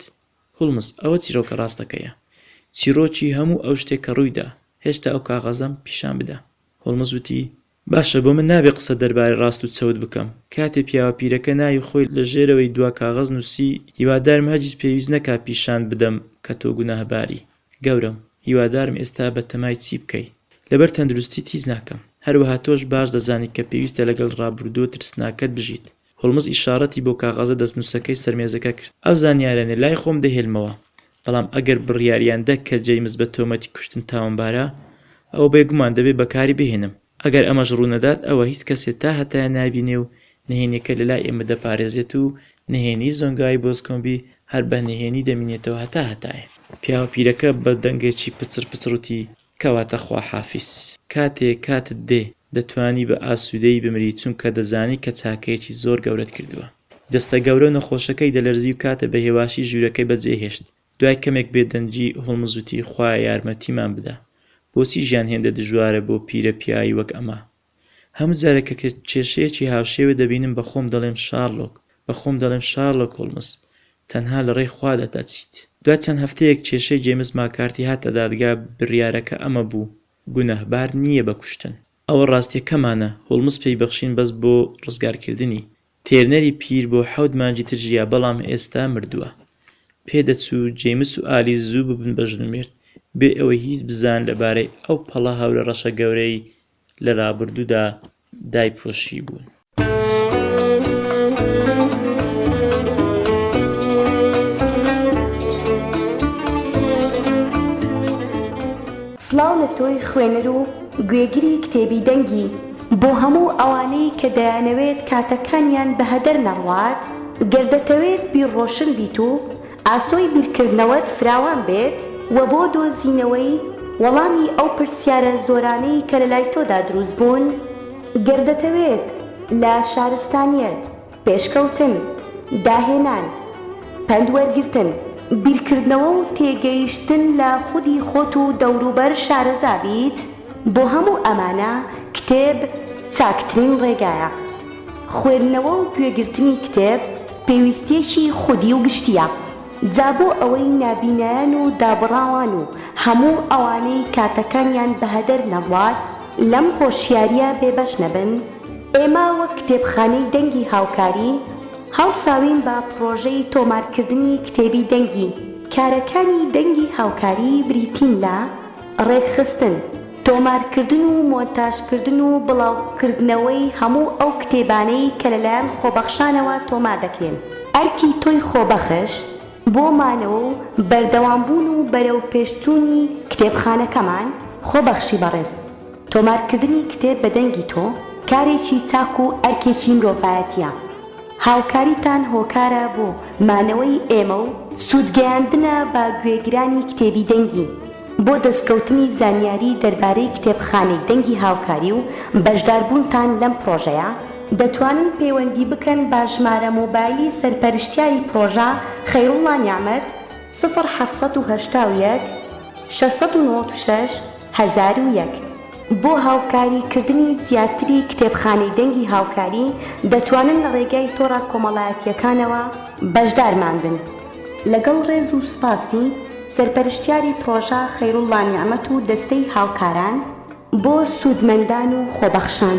هولمز ئەوە چیرۆکە ڕاستەکەیە چیڕۆکی هەموو ئەو شتەی کە ڕوویدا هێشتا ئەو کاغەزەم پیشان بدە هولمز وتی باشە بۆ من نابێ قسە دەربارەی ڕاست و چەوت بکەم کاتێ پیاوە پیرەکە ناوی خۆی لە ژێرەوەی دوا کاغەز نووسی هیوادارم هەرگیز پێویست نەکا پیشانت بدەم کە تۆ گوناهباری گەورەم، هیوادارم ئێستا بەتەمای چی بکەی؟ لەبەر تەندروستیت هیچ ناکەم. هەروەها تۆش باش دەزانیت کە پێویستە لەگەڵ ڕابوردووە ترسناکەت بژیت. هۆڵمز ئیشاڕەتی بۆ کاغەزە دەستنوسەکەی سەر مێزەکە کرد. ئەو زانیاریانە لای خۆم دەهێلمەوە، بەڵام ئەگەر بڕیاریان دا کە جەیمس بە تۆمەتی کوشتن تاوانبارە، ئەوە بێگومان دەبێ بەکاری بهێنم. ئەگەر ئەمەش ڕوونەدات ئەوە هیچ کەسێ تا هەتایە نابینێ و نهێنیەکە لە لای ئێمە دەپارێزێت و نهێنی زۆنگاوی بۆزکۆمبی هەر بە نهێنی دەمینێتەوە هەتا هەتایە. پیاوە پیرەکە بە دەنگێکی پچڕ پچڕ وتی، کەواتە خواحافیز. کاتێ کاتت دێ، دەتوانی بە ئاسوودەیی بمری چونکە دەزانی کە چاکەیەکی زۆر گەورەت کردووە. جەستە گەورە و نەخۆشەکەی دەلەرزی و کاتێ بە هێواشی ژوورەکەی بەجێ هێشت، دوای کەمێک بێدەنگی، هۆڵمز وتی، خوایە یارمەتیمان بدە. بۆچی ژیان هێندە دژوارە بۆ پیرە پیاوی وەک ئەمە؟ هەموو جارێک کە کێشەیەکی هاوشێوە دەبینم بە خۆم دەڵێم شارلۆک، بە خۆم دەڵێم شارلۆک هۆڵمز، تەنها لە ڕێی خوادا دەچیت. دوای چەند هەفتەیەک کێشەی جەیمس ماکارتی هاتە دادگا، بریارەکە ئەمە بوو، گوناهبار نییە بە کوشتن. ئەوە ڕاستییەکەمانە، هۆڵمز پێی بەخشین بەس بۆ ڕزگارکردنی. تێرنەری پیر بۆ حەوت مانگی تر ژیا بەڵام ئێستا مردووە. پێدەچوو جەیمس و ئالیس زوو ببن بە ژن و مێرد بێ ئەوەی هیچ بزانن لەبارەی ئەو پەڵە هەورە ڕەشە گەورەی لە ڕابردوودا دایپۆشیبوون. سڵاو لە تۆی خوێنەر و گوێگری کتێبی دەنگی. بۆ هەموو ئەوانەی کە دەیانەوێت کاتەکانیان بە هەدەر نەڕوات، گەر دەتەوێت بیرڕۆشن بیت و ئاسۆی بیرکردنەوەت فراوان بێت و بۆ دۆزینەوەی وەڵامی ئەو پرسیارە زۆرانەی کە لەلای تۆدا دروست بوون، گەر دەتەوێت لە شارستانیەت، پێشکەوتن، داهێنان، پەند وەرگرتن، بیرکردنەوە و تێگەیشتن لە خودی خۆت و دەوروبەر شارەزا بیت، بۆ هەموو ئەمانە کتێب چاکترین ڕێگایە. خوێندنەوە و گوێگرتنی کتێب پێویستییەکی خودی و گشتییە. جا بۆ ئەوەی نابینایان و دابڕاوان و هەموو ئەوانەی کاتەکانیان بەهەدەر نەڕوات لەم هۆشیارییە بێبەش نەبن، ئێمە وەک کتێبخانەی دەنگی هاوکاری، هەڵساوین بە پڕۆژەی تۆمارکردنی کتێبی دەنگی. کارەکانی دەنگی هاوکاری بریتین لە ڕێکخستن، تۆمارکردن و مۆنتاژکردن و بڵاوکردنەوەی هەموو ئەو کتێبانەی کە لەلایەن خۆبەخشانەوە تۆمار دەکرێن. ئەرکی تۆی خۆبەخش بۆ مانەوە و بەردەوامبوون و بەرەوپێشچوونی کتێبخانەکەمان، خۆبەخشی بەڕێز. تۆمارکردنی کتێب بە دەنگی تۆ کارێکی چاک و ئەرکێکی مرۆڤایەتییە. هاوکاریتان هۆکارە بۆ مانەوەی ئێمە و سوودگەیاندنە بە گوێگرانی کتێبی دەنگی. بۆ دەستکەوتنی زانیاری دەربارەی کتێبخانەی دەنگی هاوکاری و بەشداربوونتان لەم پڕۆژەیە، دەتوانن پەیوەندی بکەن بە ژمارە مۆبایلی سەرپەرشتیاری پڕۆژە، خەیروڵڵا نیعمەت، سفر حەفت سەد و هەشتا و یەک شەش سەد و نەوەد و شەش هەزار و یەک. بۆ هاوکاری کردنی زیاتری کتێبخانەی دەنگی هاوکاری دەتوانن لە ڕێگای تۆڕە کۆمەڵایەتییەکانەوە بەشدارمان بن. لەگەڵ ڕێز و سوپاسی سەرپەرشتیاری پڕۆژە خەیروڵڵا نیعمەت و دەستەی هاوکاران بۆ سوودمەندان و خۆبەخشان.